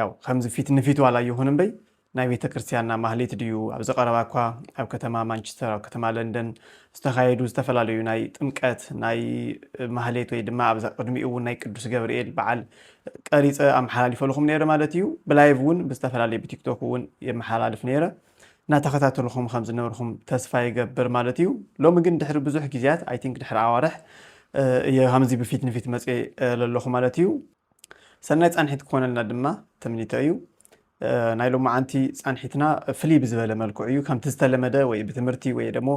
ያው ከምዚ ፊት ንፊት ዋላ ይኹን እምበይ ናይ ቤተ ክርስቲያንና ማህሌት ድዩ ኣብዚ ቀረባ እኳ ኣብ ከተማ ማንቸስተር ኣብ ከተማ ለንደን ዝተኻየዱ ዝተፈላለዩ ናይ ጥምቀት ናይ ማህሌት ወይ ድማ ኣብዛ ቅድሚኡ እውን ናይ ቅዱስ ገብርኤል በዓል ቀሪፀ ኣመሓላሊፈልኹም ነይረ ማለት እዩ ብላይቭ እውን ብዝተፈላለየ ብቲክቶክ እውን የመሓላልፍ ነይረ እናተኸታተልኹም ከም ዝነበርኹም ተስፋ ይገብር ማለት እዩ ሎሚ ግን ድሕሪ ብዙሕ ግዜያት ኣይ ቲንክ ድሕሪ ኣዋርሕ እየ ከምዚ ብፊት ንፊት መፅኤ ዘለኹ ማለት እዩ ሰናይ ፃንሒት ክኾነልና ድማ ትምኒተይ እዩ። ናይ ሎማዓንቲ ፃንሒትና ፍልይ ብዝበለ መልክዑ እዩ ከምቲ ዝተለመደ ወይ ብትምህርቲ ወይ ደሞ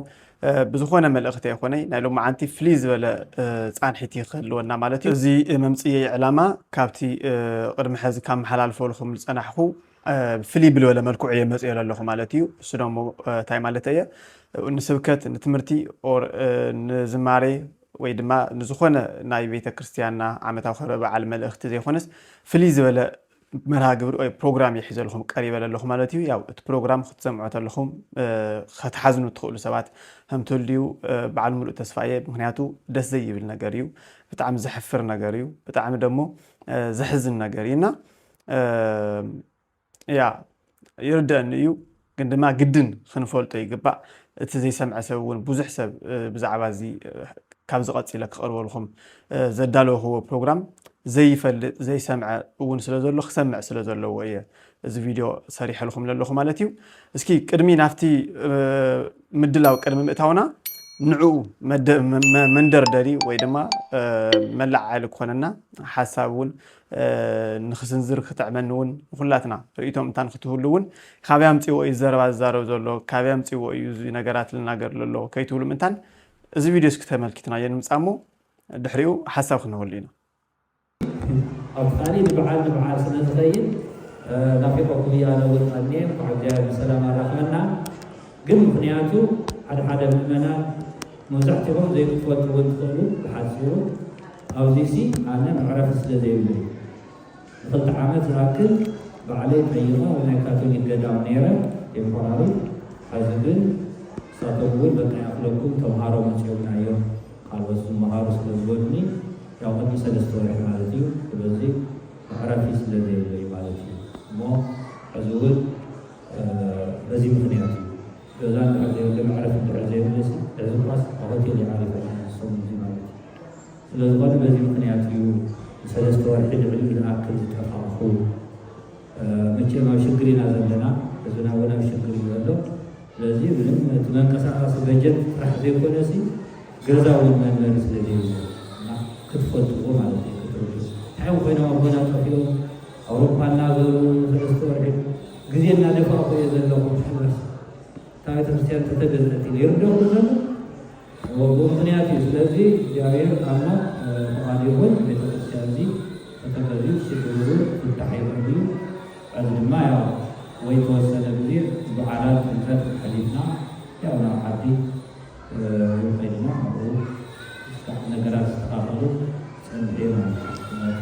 ብዝኾነ መልእኽቲ ኣይኮነይ ናይ ሎማዓንቲ ፍልይ ዝበለ ፃንሒት እዩ ክህልወና ማለት እዩ እዚ መምፅየይ ዕላማ ካብቲ ቅድሚ ሕዚ ካብ መሓላልፈልኹም ዝፀናሕኹ ፍልይ ብልበለ መልክዑ እየ መፅዮ ኣለኹ ማለት እዩ እሱ ደሞ እንታይ ማለት እየ ንስብከት ንትምህርቲ ኦር ንዝማሬ ወይ ድማ ንዝኾነ ናይ ቤተ ክርስቲያንና ዓመታዊ ክብረ በዓል መልእኽቲ ዘይኮነስ ፍልይ ዝበለ መርሃ ግብሪ ወይ ፕሮግራም ይሕዘልኹም ቀሪበ ለለኹ ማለት እዩ ያው እቲ ፕሮግራም ክትሰምዖ ተለኹም ከትሓዝኑ እትኽእሉ ሰባት ከምትልድዩ በዓል ሙሉእ ተስፋ እየ ምክንያቱ ደስ ዘይብል ነገር እዩ ብጣዕሚ ዘሕፍር ነገር እዩ ብጣዕሚ ደሞ ዘሕዝን ነገር እዩ እና እያ ይርደእኒ እዩ ግን ድማ ግድን ክንፈልጦ ይግባእ እቲ ዘይሰምዐ ሰብ እውን ብዙሕ ሰብ ብዛዕባ እዚ ካብዚ ቀፂለ ክቐርበልኩም ዘዳለውክዎ ፕሮግራም ዘይፈልጥ ዘይሰምዐ እውን ስለ ዘሎ ክሰምዕ ስለ ዘለዎ እየ እዚ ቪድዮ ሰሪሐልኩም ዘለኹ ማለት እዩ እስኪ ቅድሚ ናብቲ ምድላው ቅድሚ ምእታውና ንዕኡ መንደርደሪ ወይ ድማ መለዓዓሊ ክኾነና ሓሳብ እውን ንክስንዝር ክጥዕመኒ ውን ንኩላትና ርእይቶ ምእንታን ክትህሉ ውን ካበይ ኣምጺዎ እዩ እዚ ዘረባ ዝዛረብ ዘሎ ካበይ ኣምጺዎ እዩ እዚ ነገራት ልናገር ለሎ ከይትብሉ ምእንታን እዚ ቪድዮ እስኪ ተመልኪትናዮ ንምጻእ እሞ ድሕሪኡ ሓሳብ ክንህበሉ ኢና። ኣፍቃሪ ንብዓል ንብዓል ስለ ዝኸይድ ናፊቀኩም'የ ኣነ ውን ኣኔ እንኳዕ እግዚኣብሔር ብሰላም ኣራኽበና። ግን ምኽንያቱ ሓደ ሓደ ምእመናት መብዛሕቲኦም ዘይክፈልጡ እውን ትኽእሉ ብሓጺሩ ኣብዚሲ ኣነ መዕረፊ ስለ ዘይብለይ ንኽልተ ዓመት ዝኣክል ባዕለይ ጠይቐ ኣብ ናይ ካቶሊክ ገዳም ነይረ ቴምፖራሪ ሐዚ ግን ንሳቶም እውን በቃ ይኣኽለኩም ተምሃሮ መጺኦምና እዮም ካልኦት ዝመሃሩ ስለ ዝበሉኒ ያው ቅድሚ ሰለስተ ወርሒ ማለት እዩ ስለዚ መዕረፊ ስለ ዘይብለይ ማለት እዩ እሞ ሐዚ እውን በዚ ምኽንያት እዩ ገዛ እንድሕር ዘይብሉ መዕረፊ እንድሕር ዘይብሉ ሲ ዕዙብኻስ ኣብ ሆቴል እዩ ዓሪፉ ሕጂ ሰሙን እዚ ማለት እዩ ስለዝኾነ በዚ ምኽንያት እዩ ንሰለስተ ወርሒ ልዕሊኡ ዝኣክል ዝጠፋእኹ መቸም ኣብ ሽግር ኢና ዘለና ህዝብና እውን ኣብ ሽግር እዩ ዘሎ ስለዚ ምንም እቲ መንቀሳቐሲ በጀት ጥራሕ ዘይኮነ ሲ ገዛ እውን መንበሪ ስለዘይብሉ እና ክትፈልጥዎ ማለት እዩ ክትርዱ እንታይ ኮይኖም ኣቦና ጠፊኦም ኣውሮፓ እናዘሩ ንሰለስተ ወርሒ ግዜ እናደፋእኹ እየ ዘለኹ ትሕነስ እታ ቤተክርስትያን ተተገነት ኢሉ ይርደኹ ዘሎ ወግኡ ምክንያት እዩ። ስለዚ እግዚኣብሔር ኣሞ ፍቃዱ ይኹን ቤተክርስትያን እዚ ተተገዙ ሽግሩ ፍታሕ ይኹን እዩ። እዚ ድማ ያው ወይ ተወሰነ ግዜ በዓላት ጥምቀት ሓሊፍና ያው ናብ ዓዲ እውን ከይድና ኣብኡ ክሳዕ ነገራት ዝተካፈሉ ፀንሐ ማለት እዩ ምክንያቱ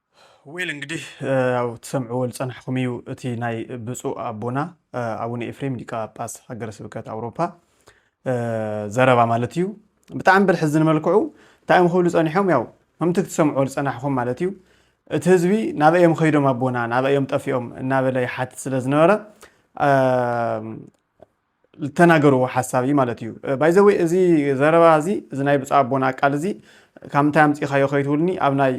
ዌል እንግዲህ ያው ትሰምዕዎ ዝጸናሕኩም እዩ እቲ ናይ ብፁዕ ኣቦና ኣቡነ ኤፍሬም ሊቀ ጳጳስ ሃገረ ስብከት ኣውሮፓ ዘረባ ማለት እዩ ብጣዕሚ ብልሕዝኒ መልክዑ እንታይ እዮም ክብሉ ጸኒሖም ያው ከምቲ ክትሰምዕዎ ዝጸናሕኹም ማለት እዩ እቲ ህዝቢ ናበይ እዮም ከይዶም ኣቦና ናበይ እዮም ጠፊኦም እናበለ ይሓትት ስለ ዝነበረ ዝተናገርዎ ሓሳብ እዩ ማለት እዩ ባይዘወይ እዚ ዘረባ እዚ እዚ ናይ ብፁዕ ኣቦና ቃል እዚ ካብ ምንታይ ኣምፂእኻዮ ከይትብሉኒ ኣብ ናይ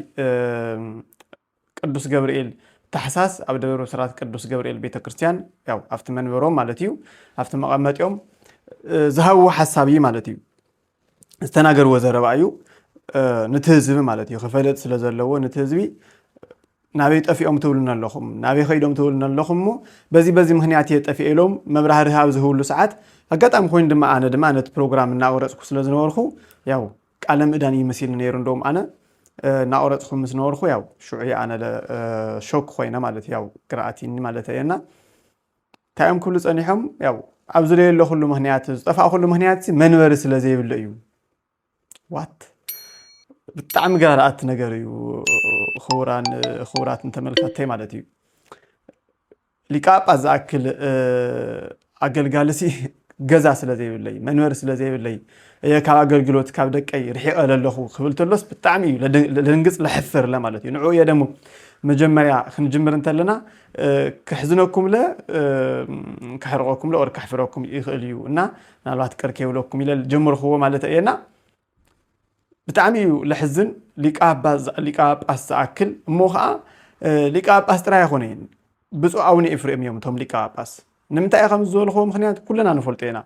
ቅዱስ ገብርኤል ታሕሳስ ኣብ ደብረ ብስራት ቅዱስ ገብርኤል ቤተ ክርስቲያን ያው ኣብቲ መንበሮም ማለት እዩ ኣብቲ መቐመጢኦም ዝሃብዎ ሓሳብ እዩ ማለት እዩ ዝተናገርዎ ዘረባ እዩ ንቲ ህዝቢ ማለት እዩ ክፈልጥ ስለ ዘለዎ ንቲ ህዝቢ ናበይ ጠፊኦም ትብሉና ኣለኹም ናበይ ከይዶም ትብሉና ኣለኹም እሞ በዚ በዚ ምክንያት እየ ጠፊኤ ኢሎም መብራህርህ ኣብ ዝህብሉ ሰዓት ኣጋጣሚ ኮይኑ ድማ ኣነ ድማ ነቲ ፕሮግራም እናቆረፅኩ ስለ ዝነበርኩ ያው ቃለ ምእዳን እዩ መሲሉ ነይሩ እንደውም ኣነ እናቆረፅኩ ምስ ነበርኩ ያው ሽዑ ኣነ ሾክ ኮይነ ማለት ያው ግርኣቲኒ ማለት እየና እንታይ እዮም ክብሉ ጸኒሖም ያው ኣብ ዝለየለኹሉ ምክንያት ዝጠፋእኩሉ ምክንያት መንበሪ ስለ ዘይብለ እዩ ዋት ብጣዕሚ ጋርኣት ነገር እዩ ክቡራን ክቡራትን ተመልካተይ ማለት እዩ ሊቃጳስ ዝኣክል ኣገልጋሊ ሲ ገዛ ስለ ዘይብለይ መንበሪ ስለ ዘይብለይ እየ ካብ ኣገልግሎት ካብ ደቀይ ርሒቐ ለለኹ ክብል ተሎስ ብጣዕሚ እዩ ለድንግፅ ለሕፍር ለማለት እዩ ንዕኡ እየ ደሞ መጀመርያ ክንጅምር እንተለና ከሕዝነኩምለ ከሕርቐኩምለ ኦር ከሕፍረኩም ይኽእል እዩ እና ምናልባት ቅር ከይብለኩም ኢለ ጀምርክዎ ማለት እየ እና ብጣዕሚ እዩ ለሕዝን ሊቀ ጳጳስ ዝኣክል እሞ ከዓ ሊቀ ጳጳስ ጥራይ ኣይኮነን ብፁዕ ኣቡነ ኤፍሬም እዮም እቶም ሊቀ ጳጳስ ንምንታይ እየ ከምዚ ዝበልኽዎ ምኽንያት ኩልና ንፈልጦ ኢና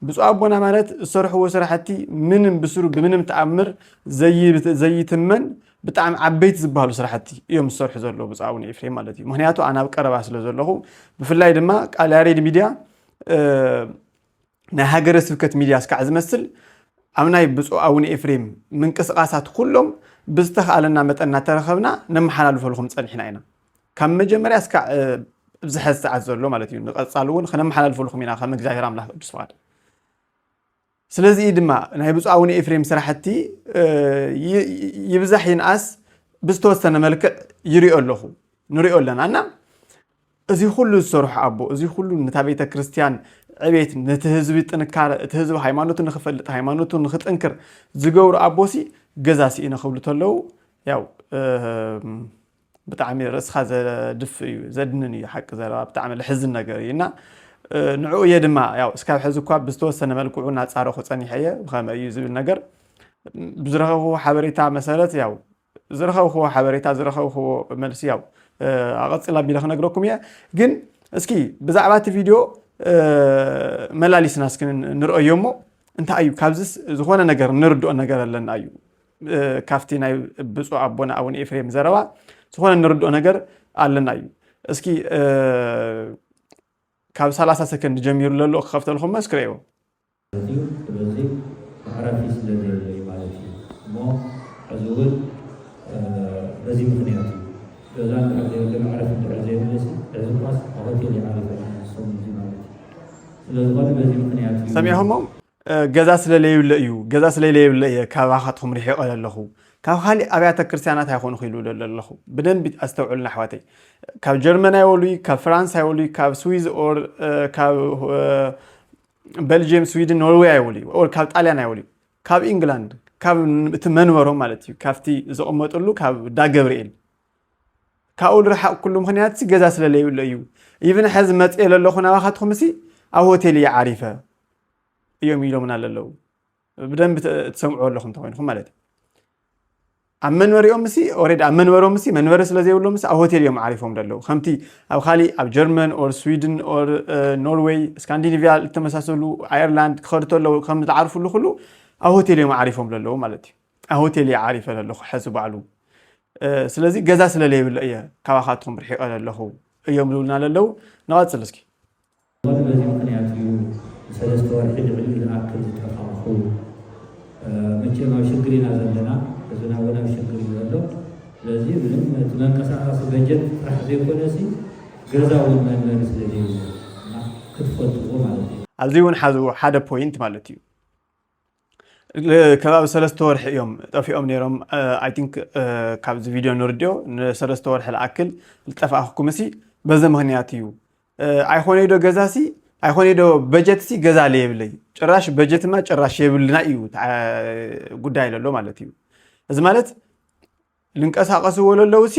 ብፁዕ ኣቦና ማለት ዝሰርሕዎ ስራሕቲ ምንም ብስሩ ብምንም ተኣምር ዘይትመን ብጣዕሚ ዓበይቲ ዝበሃሉ ስራሕቲ እዮም ዝሰርሑ ዘለዉ ብፁዕ ኣቡነ ኤፍሬም ማለት እዩ ምክንያቱ ኣነ ኣብ ቀረባ ስለ ዘለኹ ብፍላይ ድማ ቃል ያሬድ ሚድያ ናይ ሃገረ ስብከት ሚድያ ስካዕ ዝመስል ኣብ ናይ ብፁዕ ኣውነ ኤፍሬም ምንቅስቃሳት ኩሎም ብዝተክኣለና መጠን ናተረከብና ነመሓላልፈልኹም ጸኒሕና ኢና ካብ መጀመርያ ስካዕ ኣብዚ ሐዚ ሰዓት ዘሎ ማለት እዩ ንቀፃሊ እውን ክነመሓላልፈልኹም ኢና ከም እግዚኣብሔር ኣምላክ ቅዱስ ፍቃድ ስለዚ እዩ ድማ ናይ ብፁዕ ኣቡነ ኤፍሬም ስራሕቲ ይብዛሕ ይንኣስ ብዝተወሰነ መልክዕ ይሪኦ ኣለኹ ንሪኦ ኣለና እና እዚ ኹሉ ዝሰርሑ ኣቦ እዚ ኹሉ ነታ ቤተ ክርስትያን ዕቤት ነቲ ህዝቢ ጥንካረ እቲ ህዝቢ ሃይማኖቱ ንኽፈልጥ ሃይማኖቱ ንኽጥንክር ዝገብሩ ኣቦሲ ገዛ ስኢነ ክብሉ ተለው ያው ብጣዕሚ ርእስኻ ዘድፍ እዩ ዘድንን እዩ ሓቂ ዘረባ ብጣዕሚ ልሕዝን ነገር እዩ እና ንዕኡ እየ ድማ ያው እስካብ ሕዚ እኳ ብዝተወሰነ መልክዑ እናፃረኹ ፀኒሐ እየ ብኸመይ እዩ ዝብል ነገር ብዝረኸቡ ሓበሬታ መሰረት ያው ዝረኸብክዎ ሓበሬታ ዝረኸብክዎ መልሲ ያው ኣቐፅል ኣቢለ ክነግረኩም እየ ግን እስኪ ብዛዕባ እቲ ቪድዮ መላሊስና እስኪ ንርኦዮ እሞ እንታይ እዩ ካብዚ ዝኾነ ነገር ንርድኦ ነገር ኣለና እዩ ካብቲ ናይ ብፁዕ ኣቦና ኣቡነ ኤፍሬም ዘረባ ዝኾነ ንርድኦ ነገር ኣለና እዩ እስኪ ካብ 30 ሰከንድ ጀሚሩ ለሎ ክኸፍተልኹም መስክረዮ ኣዝዩ ስለዚ መዕረፊ ስለ ዘየለይ ማለት እዩ እሞ ሕዚ ውን በዚ ምክንያት እዩ ገዛ እንድሕር ዘየለ መዕረፊ እንድሕር ዘየለሲ ሕዚ እኳስ ኣብ ሆቴል እዩ ዓሪፈ ሰሙን እዚ ማለት እዩ ስለ ዝኾነ በዚ ምክንያት እዩ ሰሚዕኹሞ ገዛ ስለ ለይብለ እዩ ገዛ ስለ ለይብለ እየ ካባኻትኩም ርሒቐ ዘለኹ ካብ ካሊእ ኣብያተ ክርስቲያናት ኣይኮኑ ክኢሉ ዘለኹ ብደንቢ ኣስተውዕልና ኣሕዋተይ ካብ ጀርመን ኣይወሉይ ካብ ፍራንስ ኣይወሉይ ካብ ስዊዝ ኦር ካብ በልጅየም ስዊድን ኖርዌይ ኣይወልዩ ኦር ካብ ጣልያን ኣይወልዩ ካብ ኢንግላንድ ካብ እቲ መንበሮም ማለት እዩ ካብቲ ዝቕመጥሉ ካብ ዳገብርኤል ካብኡ ዝረሓቕኩሉ ምክንያት ሲ ገዛ ስለለይብሎ እዩ ኢብን ሕዚ መፅኤ ዘለኹ ናባኻትኹም ሲ ኣብ ሆቴል እየ ዓሪፈ እዮም ኢሎምና ዘለዉ ብደንቢ ትሰምዑ ኣለኹም ተኮይንኹም ማለት እዩ ኣብ መንበሪኦም ምስ ኦሬዲ ኣብ መንበሮም ምስ መንበሪ ስለ ዘይብሎም ምስ ኣብ ሆቴል እዮም ዓሪፎም ደለዉ ከምቲ ኣብ ካሊእ ኣብ ጀርመን ኦር ስዊድን ኦር ኖርዌይ ስካንዲኒቪያ ዝተመሳሰሉ ኣየርላንድ ክኸዱ ተለዉ ከም ዝዓርፍሉ ኩሉ ኣብ ሆቴል እዮም ዓሪፎም ደለዉ ማለት እዩ ኣብ ሆቴል እየ ዓሪፈ ዘለኹ ሕዚ ባዕሉ ስለዚ ገዛ ስለለይብለ እየ ካባኻትኩም ርሒቐ ዘለኹ እዮም ዝብሉና ዘለዉ ንቐፅል እስኪ ሞት በዚ ምኽንያት እዩ ንሰለስተ ወርሒ ልዕሊ ዝኣክል ዝጠፋእኹ። መቸም ኣብ ሽግር ኢና ዘለና፣ ህዝብና እውን ኣብ ሽግር እዩ ዘሎ። ስለዚ ምንም እቲ መንቀሳቐሲ በጀት ጥራሕ ዘይኮነሲ ገዛ እውን መንበሪ ስለ ዘይብሎም እና ክትፈልጥዎ ማለት እዩ። ኣብዚ እውን ሓዝዎ ሓደ ፖይንት ማለት እዩ። ከባቢ ሰለስተ ወርሒ እዮም ጠፊኦም ነይሮም ኣይ ቲንክ ካብዚ ቪድዮ ንርድዮ ንሰለስተ ወርሒ ዝኣክል ዝጠፋእኩምሲ በዚ ምክንያት እዩ ኣይኮነይ ዶ ገዛሲ ኣይኮነይ ዶ በጀትሲ ገዛ ለየብለይ ጭራሽ በጀትማ ጭራሽ የብልና እዩ ጉዳይ ለሎ ማለት እዩ እዚ ማለት ልንቀሳቀሱ ወለለውሲ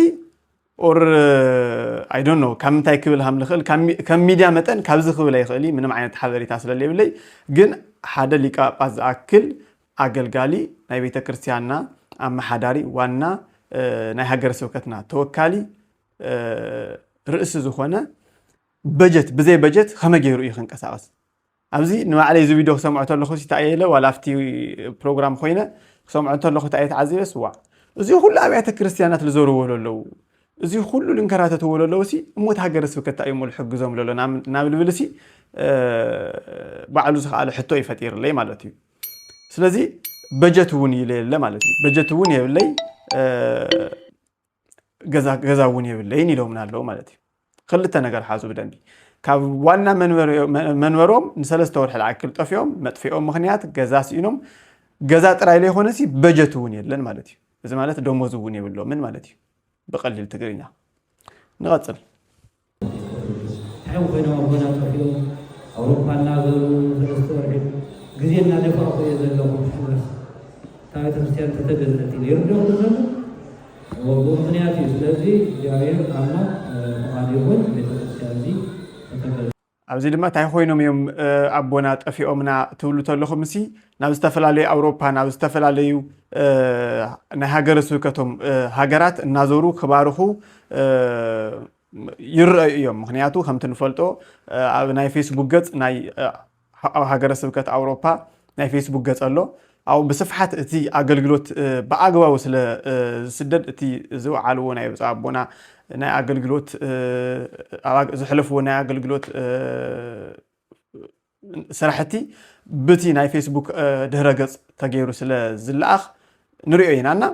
ኦር ኣይ ዶንት ኖ ካብ ምንታይ ክብል ሃም ልኽእል ከም ሚድያ መጠን ካብዚ ክብል ኣይኽእል ምንም ዓይነት ሓበሬታ ስለለይብለይ ግን ሓደ ሊቀ ጳጳስ ዝኣክል ኣገልጋሊ ናይ ቤተ ክርስቲያንና ኣመሓዳሪ ዋና ናይ ሃገረ ስብከትና ተወካሊ ርእሲ ዝኾነ በጀት ብዘይ በጀት ከመይ ገይሩ እዩ ክንቀሳቀስ ኣብዚ ንባዕለይ እዚ ቪድዮ ክሰምዖ ተለኹ እንታይ ኢለ ዋላ ኣብቲ ፕሮግራም ኮይነ ክሰምዖ እንተለኹ እንታይ እየ ተዓዚበስ ዋዕ እዚ ኩሉ ኣብያተ ክርስትያናት ልዘርዎ ለለዉ እዚ ኩሉ ልንከራተትዎ ለለዉ ሲ እሞት ሃገረ ስብከት እንታይ እሞ ልሕግዞም ለሎ ናብ ልብል ሲ ባዕሉ ዝኸኣለ ሕቶ እዩ ፈጢርለይ ማለት እዩ ስለዚ በጀት እውን ይለየለ ማለት እዩ በጀት እውን የብለይ ገዛ እውን የብለይን ኢሎምና ኣለዉ ማለት እዩ ክልተ ነገር ሓዙ ብደንቢ ካብ ዋና መንበሮም ንሰለስተ ወርሒ ዝኣክል ጠፊኦም መጥፊኦም ምክንያት ገዛ ስኢኖም ገዛ ጥራይ ዘይኮነሲ በጀት እውን የለን ማለት እዩ እዚ ማለት ደሞዝ እውን የብሎምን ማለት እዩ ብቀሊል ትግርኛ ንቐፅል ሓው ኮይኖም ኣቦና ጠፊኡ ኣውሮፓ እናዘሩ ሰለስተ ወርሒ ግዜ እናደፋእኹ እየ ዘለኹ ሽመስ ካብ ቤተክርስትያን ተተገነጢሉ ይርደኡ ዘሎ ወቦ ምክንያት እዩ። ስለዚ እግዚኣብሔር ኣምላክ ፍቃዱ ይኹን ቤተክርስትያን እዚ ተተገ ኣብዚ ድማ ታይ ኾይኖም እዮም ኣቦና ጠፊኦምና ትብሉ ተለኹምሲ ናብ ዝተፈላለዩ ኣውሮፓ ናብ ዝተፈላለዩ ናይ ሃገረ ስብከቶም ሃገራት እናዞሩ ክባርኹ ይረኣዩ እዮም። ምክንያቱ ከምቲ ንፈልጦ ኣብ ናይ ፌስቡክ ገጽ ናይ ሃገረ ስብከት ኣውሮፓ ናይ ፌስቡክ ገጽ ኣሎ። ኣብኡ ብስፍሓት እቲ ኣገልግሎት ብኣግባቡ ስለ ዝስደድ እቲ ዝወዓልዎ ናይ ብፁዕ ኣቦና ናይ ኣገልግሎት ዘሕለፍዎ ናይ ኣገልግሎት ስራሕቲ ብቲ ናይ ፌስቡክ ድህረ ገፅ ተገይሩ ስለ ዝለኣኽ ንሪኦ ኢና እና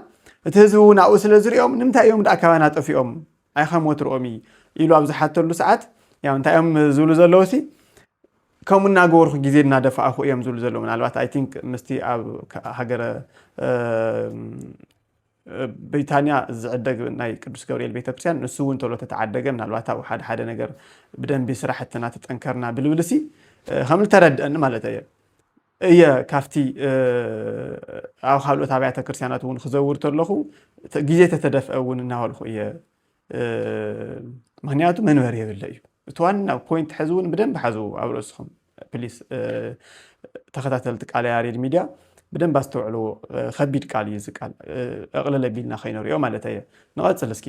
እቲ ህዝቢ እውን ኣብኡ ስለ ዝሪኦም ንምንታይ እዮም ደኣ ካባና ጠፊኦም ኣይ ኸም ወትርኦም እዪ ኢሉ ኣብ ዝሓተሉ ሰዓት ያው እንታይ እዮም ዝብሉ ዘለውሲ ከምኡ እናገበርኩ ግዜ እናደፋእኹ እዮም ዝብሉ ዘለዉ ምናልባት ኣይ ቲንክ ምስቲ ኣብ ሃገረ ብሪታንያ ዝዕደግ ናይ ቅዱስ ገብርኤል ቤተክርስትያን ንሱ እውን ተሎ ተተዓደገ ምናልባት ኣብኡ ሓደ ሓደ ነገር ብደንቢ ስራሕትና ተጠንከርና ብልብልሲ ከም ዝተረድአኒ ማለት እየ እየ ካብቲ ኣብ ካልኦት ኣብያተ ክርስቲያናት እውን ክዘውር ተለኹ ግዜ ተተደፍአ እውን እናበልኩ እየ ምክንያቱ መንበሪ የብለ እዩ እቲ ዋና ፖይንት ሕዚ እውን ብደንብ ሓዝዎ ኣብ ርእስኹም ፕሊስ ተኸታተልቲ ቃለ ያሬድ ሚድያ ብደንብ ኣስተውዕልዎ ከቢድ ቃል እዩ እዚ ቃል እቕልል ኣቢልና ከይንሪኦ ማለት እየ ንቐፅል እስኪ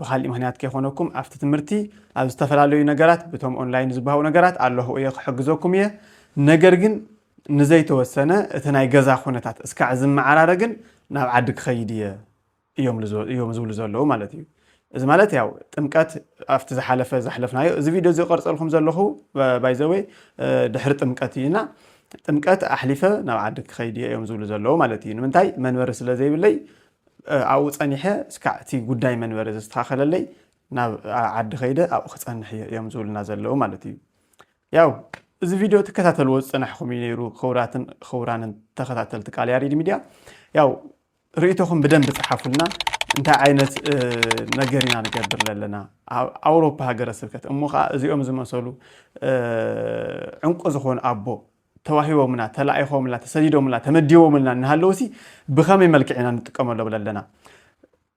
ብኻሊእ ምኽንያት ከይኾነኩም ኣብቲ ትምህርቲ ኣብ ዝተፈላለዩ ነገራት ብቶም ኦንላይን ዝበሃው ነገራት ኣለኹ እየ ክሕግዘኩም እየ ነገር ግን ንዘይተወሰነ እቲ ናይ ገዛ ኩነታት እስካዕ ዝመዓራረ ግን ናብ ዓዲ ክኸይድ እየ እዮም ዝብሉ ዘለዉ ማለት እዩ እዚ ማለት ያው ጥምቀት ኣብቲ ዝሓለፈ ዘሕለፍናዮ እዚ ቪድዮ እዚ ቀርፀልኩም ዘለኹ ባይዘወይ ድሕሪ ጥምቀት እዩና ጥምቀት ኣሕሊፈ ናብ ዓዲ ክኸይድ እዮም ዝብሉ ዘለዉ ማለት እዩ ንምንታይ መንበሪ ስለ ዘይብለይ ኣብኡ ጸኒሐ እስካዕ እቲ ጉዳይ መንበሪ ዝስተኻኸለለይ ናብ ዓዲ ከይደ ኣብኡ ክጸንሕ እየ እዮም ዝብሉና ዘለዉ ማለት እዩ። ያው እዚ ቪድዮ ትከታተልዎ ዝጸናሕኹም እዩ ነይሩ ክቡራትን ክቡራንን ተኸታተልቲ ቃል ያሬድ ሚድያ ያው ርእይቶኹም ብደንብ ጸሓፉልና እንታይ ዓይነት ነገር ኢና ንገብር ዘለና ኣብ ኣውሮፓ ሃገረ ስብከት እሞ ከዓ እዚኦም ዝመሰሉ ዕንቁ ዝኾኑ ኣቦ ተዋሂቦምና፣ ተላኢኾምልና፣ ተሰዲዶምልና፣ ተመዲቦምልና እናሃለዉሲ ብኸመይ መልክዕ ኢና ንጥቀመሎም ኣለና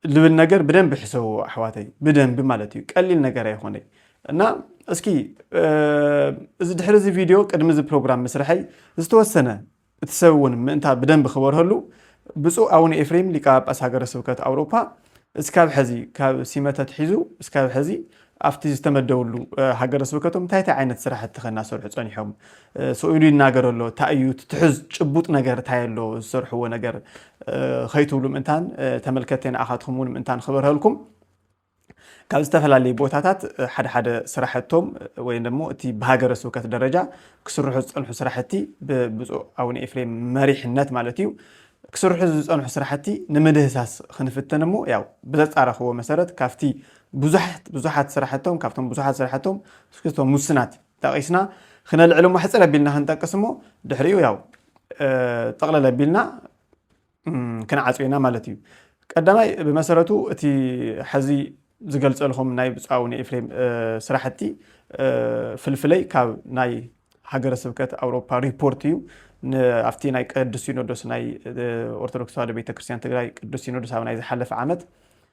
ልብል ነገር ብደንቢ ሕሰብዎ ኣሕዋተይ፣ ብደንቢ ማለት እዩ። ቀሊል ነገር ኣይኾነይ እና እስኪ እዚ ድሕሪ እዚ ቪድዮ ቅድሚ እዚ ፕሮግራም ምስርሐይ ዝተወሰነ እቲ ሰብ እውን ምእንታ ብደንቢ ክበርሀሉ ብፁዕ ኣቡነ ኤፍሬም ሊቀ ጳጳስ ሃገረ ስብከት ኣውሮፓ እስካብ ሕዚ ካብ ሲመተ ትሒዙ እስካብ ሕዚ ኣብቲ ዝተመደብሉ ሃገረ ስብከቶም እንታይ እንታይ ዓይነት ስራሕቲ ከ እናሰርሑ ፀኒሖም? ስእሉ ይናገር ኣሎ ታይ እዩ እቲ ትሑዝ ጭቡጥ ነገር ታይ ኣሎ ዝሰርሕዎ ነገር ከይትብሉ ምእንታን ተመልከትቲ ንኣኻትኩም እውን ምእንታን ክበርሀልኩም ካብ ዝተፈላለዩ ቦታታት ሓደ ሓደ ስራሕቶም ወይ ደሞ እቲ ብሃገረ ስብከት ደረጃ ክስርሑ ዝፀንሑ ስራሕቲ ብብፁዕ ኣቡነ ኤፍሬም መሪሕነት ማለት እዩ ክስርሑ ዝፀንሑ ስራሕቲ ንምድህሳስ ክንፍትን እሞ ያው ብዘፃረኽዎ መሰረት ካብቲ ብዙሓት ብዙሓት ስራሕቶም ካብቶም ብዙሓት ስራሕቶም እስክቶም ሙስናት ጠቂስና ክነልዕል እሞ ሕፅር ኣቢልና ክንጠቅስ እሞ ድሕሪኡ ያው ጠቕለል ኣቢልና ክንዓፅዮ ኢና ማለት እዩ ቀዳማይ ብመሰረቱ እቲ ሐዚ ዝገልፀልኹም ናይ ብፁዕ ኣቡነ ኤፍሬም ስራሕቲ ፍልፍለይ ካብ ናይ ሃገረ ስብከት ኣውሮፓ ሪፖርት እዩ ኣብቲ ናይ ቅዱስ ሲኖዶስ ናይ ኦርቶዶክስ ተዋህዶ ቤተክርስትያን ትግራይ ቅዱስ ሲኖዶስ ኣብ ናይ ዝሓለፈ ዓመት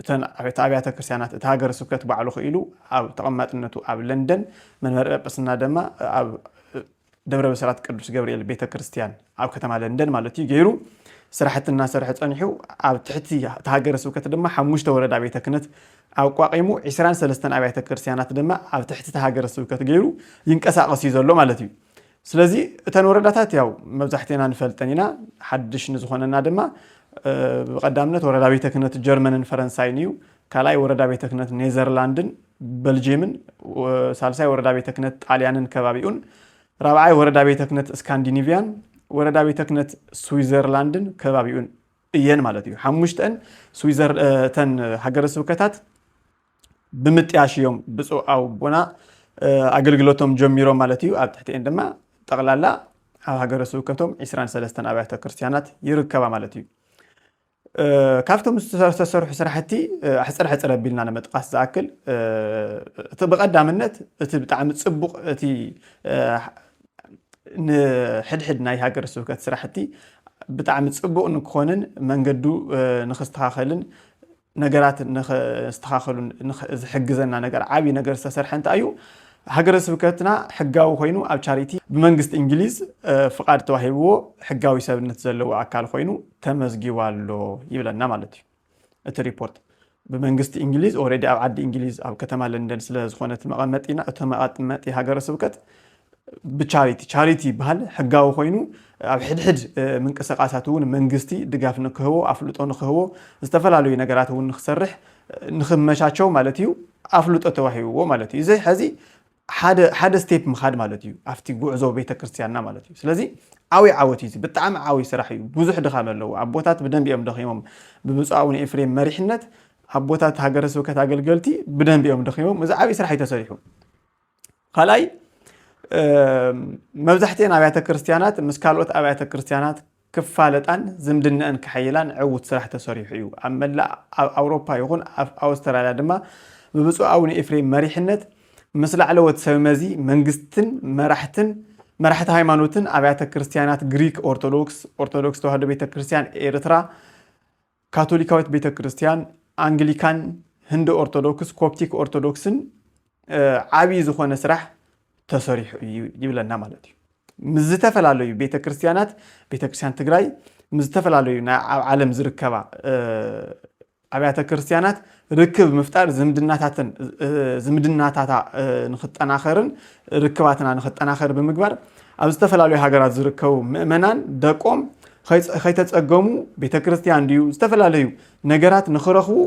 እተን ዓበይቲ ኣብያተ ክርስቲያናት እቲ ሃገረ ስብከት ባዕሉ ክኢሉ ኣብ ተቐማጥነቱ ኣብ ለንደን መንበረ ጰጵስና ደማ ኣብ ደብረ ብስራት ቅዱስ ገብርኤል ቤተ ክርስቲያን ኣብ ከተማ ለንደን ማለት እዩ ገይሩ ስራሕቲ እናሰርሐ ጸኒሑ ኣብ ትሕቲ እቲ ሃገረ ስብከት ድማ ሓሙሽተ ወረዳ ቤተ ክህነት ኣቋቒሙ ዒስራን ሰለስተን ኣብያተ ክርስቲያናት ድማ ኣብ ትሕቲ እቲ ሃገረ ስብከት ገይሩ ይንቀሳቐስ እዩ ዘሎ ማለት እዩ። ስለዚ እተን ወረዳታት ያው መብዛሕትና ንፈልጠን ኢና ሓድሽ ንዝኾነና ድማ ብቀዳምነት ወረዳ ቤተ ክህነት ጀርመንን ፈረንሳይን እዩ ካልኣይ ወረዳ ቤተ ክህነት ኔዘርላንድን በልጅየምን ሳልሳይ ወረዳ ቤተ ክህነት ጣልያንን ከባቢኡን ራብዓይ ወረዳ ቤተ ክህነት ስካንዲኒቪያን ወረዳ ቤተ ክህነት ስዊዘርላንድን ከባቢኡን እየን ማለት እዩ ሓሙሽተን እተን ሃገረ ስብከታት ብምጥያሽ እዮም ብፁዕ ኣቡና ኣገልግሎቶም ጀሚሮም ማለት እዩ። ኣብ ትሕቲኤን ድማ ጠቕላላ ኣብ ሃገረ ስብከቶም 23 ኣብያተ ክርስቲያናት ይርከባ ማለት እዩ። ካብቶም ዝተሰርሑ ስራሕቲ ሕፅር ሕፅር ኣቢልና ንምጥቃስ ዝኣክል እቲ ብቐዳምነት እቲ ብጣዕሚ ፅቡቕ እቲ ንሕድሕድ ናይ ሃገረ ስብከት ስራሕቲ ብጣዕሚ ፅቡቕ ንክኾንን መንገዱ ንክስተኻኸልን ነገራት ንኸስተኻኸሉ ዝሕግዘና ነገር ዓብይ ነገር ዝተሰርሐ እንታይ እዩ? ሃገረ ስብከትና ሕጋዊ ኮይኑ ኣብ ቻሪቲ ብመንግስቲ እንግሊዝ ፍቓድ ተዋሂብዎ ሕጋዊ ሰብነት ዘለዎ ኣካል ኮይኑ ተመዝጊቡ ኣሎ ይብለና ማለት እዩ እቲ ሪፖርት። ብመንግስቲ እንግሊዝ ኦልሬዲ ኣብ ዓዲ እንግሊዝ ኣብ ከተማ ለንደን ስለ ዝኾነ እቲ መቐመጢና እቲ መቐመጢ ሃገረ ስብከት ብቻሪቲ ቻሪቲ ይበሃል ሕጋዊ ኮይኑ ኣብ ሕድሕድ ምንቅስቃሳት እውን መንግስቲ ድጋፍ ንክህቦ ኣፍልጦ ንክህቦ ዝተፈላለዩ ነገራት እውን ንክሰርሕ ንክመቻቸው ማለት እዩ ኣፍልጦ ተዋሂብዎ ማለት እዩ እዚ ሕዚ ሓደ ስቴፕ ምካድ ማለት እዩ ኣብቲ ጉዕዞ ቤተክርስትያንና ማለት እዩ ስለዚ ዓብይ ዓወት እዩ ብጣዕሚ ዓብይ ስራሕ እዩ ብዙሕ ድኻም ኣለዎ ኣቦታት ብደንብ እዮም ደኺሞም ብብፁዕ ኣቡነ ኤፍሬም መሪሕነት ኣቦታት ሃገረ ስብከት ኣገልገልቲ ብደንብ እዮም ደኺሞም እዚ ዓብይ ስራሕ እዩ ተሰሪሑ ካልኣይ መብዛሕትኤን ኣብያተ ክርስትያናት ምስ ካልኦት ኣብያተ ክርስትያናት ክፋለጣን ዝምድነአን ክሐይላን ዕውት ስራሕ ተሰሪሑ እዩ። ኣብ መላእ ኣብ ኣውሮፓ ይኹን ኣብ ኣውስትራልያ ድማ ብብፁዕ ኣቡነ ኤፍሬም መሪሕነት ምስ ላዕለዎት ሰብ መዚ መንግስትን መራሕትን መራሕቲ ሃይማኖትን ኣብያተ ክርስትያናት ግሪክ ኦርቶዶክስ ኦርቶዶክስ ተዋህዶ ቤተ ክርስትያን ኤርትራ ካቶሊካዊት ቤተ ክርስቲያን፣ ኣንግሊካን፣ ህንዲ ኦርቶዶክስ፣ ኮፕቲክ ኦርቶዶክስን ዓብዪ ዝኾነ ስራሕ ተሰሪሑ እዩ ይብለና ማለት እዩ። ምስ ዝተፈላለዩ ቤተ ክርስቲያናት ቤተ ክርስቲያን ትግራይ ምስ ዝተፈላለዩ ናይ ኣብ ዓለም ዝርከባ ኣብያተ ክርስቲያናት ርክብ ምፍጣር ዝምድናታትን ዝምድናታታ ንክጠናኸርን ርክባትና ንክጠናኸር ብምግባር ኣብ ዝተፈላለዩ ሃገራት ዝርከቡ ምእመናን ደቆም ከይተፀገሙ ቤተ ክርስቲያን ድዩ ዝተፈላለዩ ነገራት ንክረኽቡ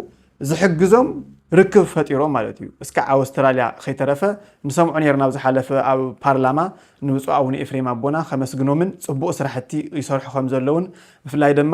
ዝሕግዞም ርክብ ፈጢሮም ማለት እዩ እስካዕ ኣውስትራልያ ከይተረፈ ንሰምዖ ነርና ኣብ ዝሓለፈ ኣብ ፓርላማ ንብፁዕ ኣቡነ ኤፍሬም ኣቦና ከመስግኖምን ፅቡቅ ስራሕቲ ይሰርሑ ከም ዘለውን ብፍላይ ድማ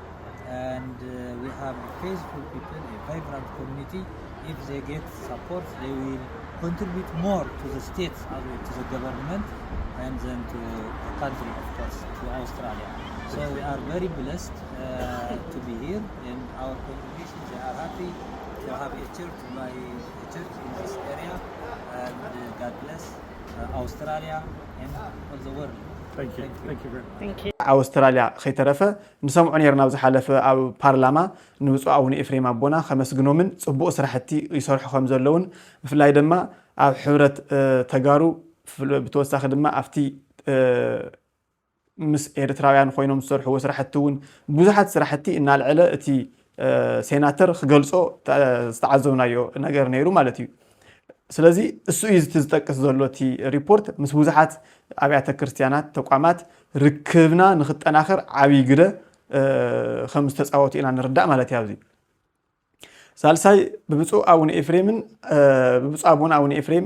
ኣውስትራልያ ከይተረፈ ንሰምዖ ኔርና ኣብ ዝሓለፈ ኣብ ፓርላማ ንብጹእ ኣቡነ ኤፍሬም ኣቦና ከመስግኖምን ጽቡቅ ስራሕቲ ይሰርሑ ከም ዘለዉን ብፍላይ ደማ ኣብ ሕብረት ተጋሩ ብተወሳኪ ድማ ኣብቲ ምስ ኤርትራውያን ኮይኖም ዝሰርሕዎ ስራሕቲ ውን ብዙሓት ስራሕቲ እናልዐለ እቲ ሴናተር ክገልጾ ዝተዓዘብናዮ ነገር ነይሩ ማለት እዩ። ስለዚ እሱ እዩ እቲ ዝጠቅስ ዘሎ እቲ ሪፖርት ምስ ብዙሓት ኣብያተ ክርስትያናት ተቋማት ርክብና ንክጠናኸር ዓብይ ግደ ከም ዝተፃወቱ ኢና ንርዳእ ማለት እዩ ኣብዚ ሳልሳይ ብብፁዕ ኣቡነ ኤፍሬምን ብብፁዕ ኣቡነ ኣቡነ ኤፍሬም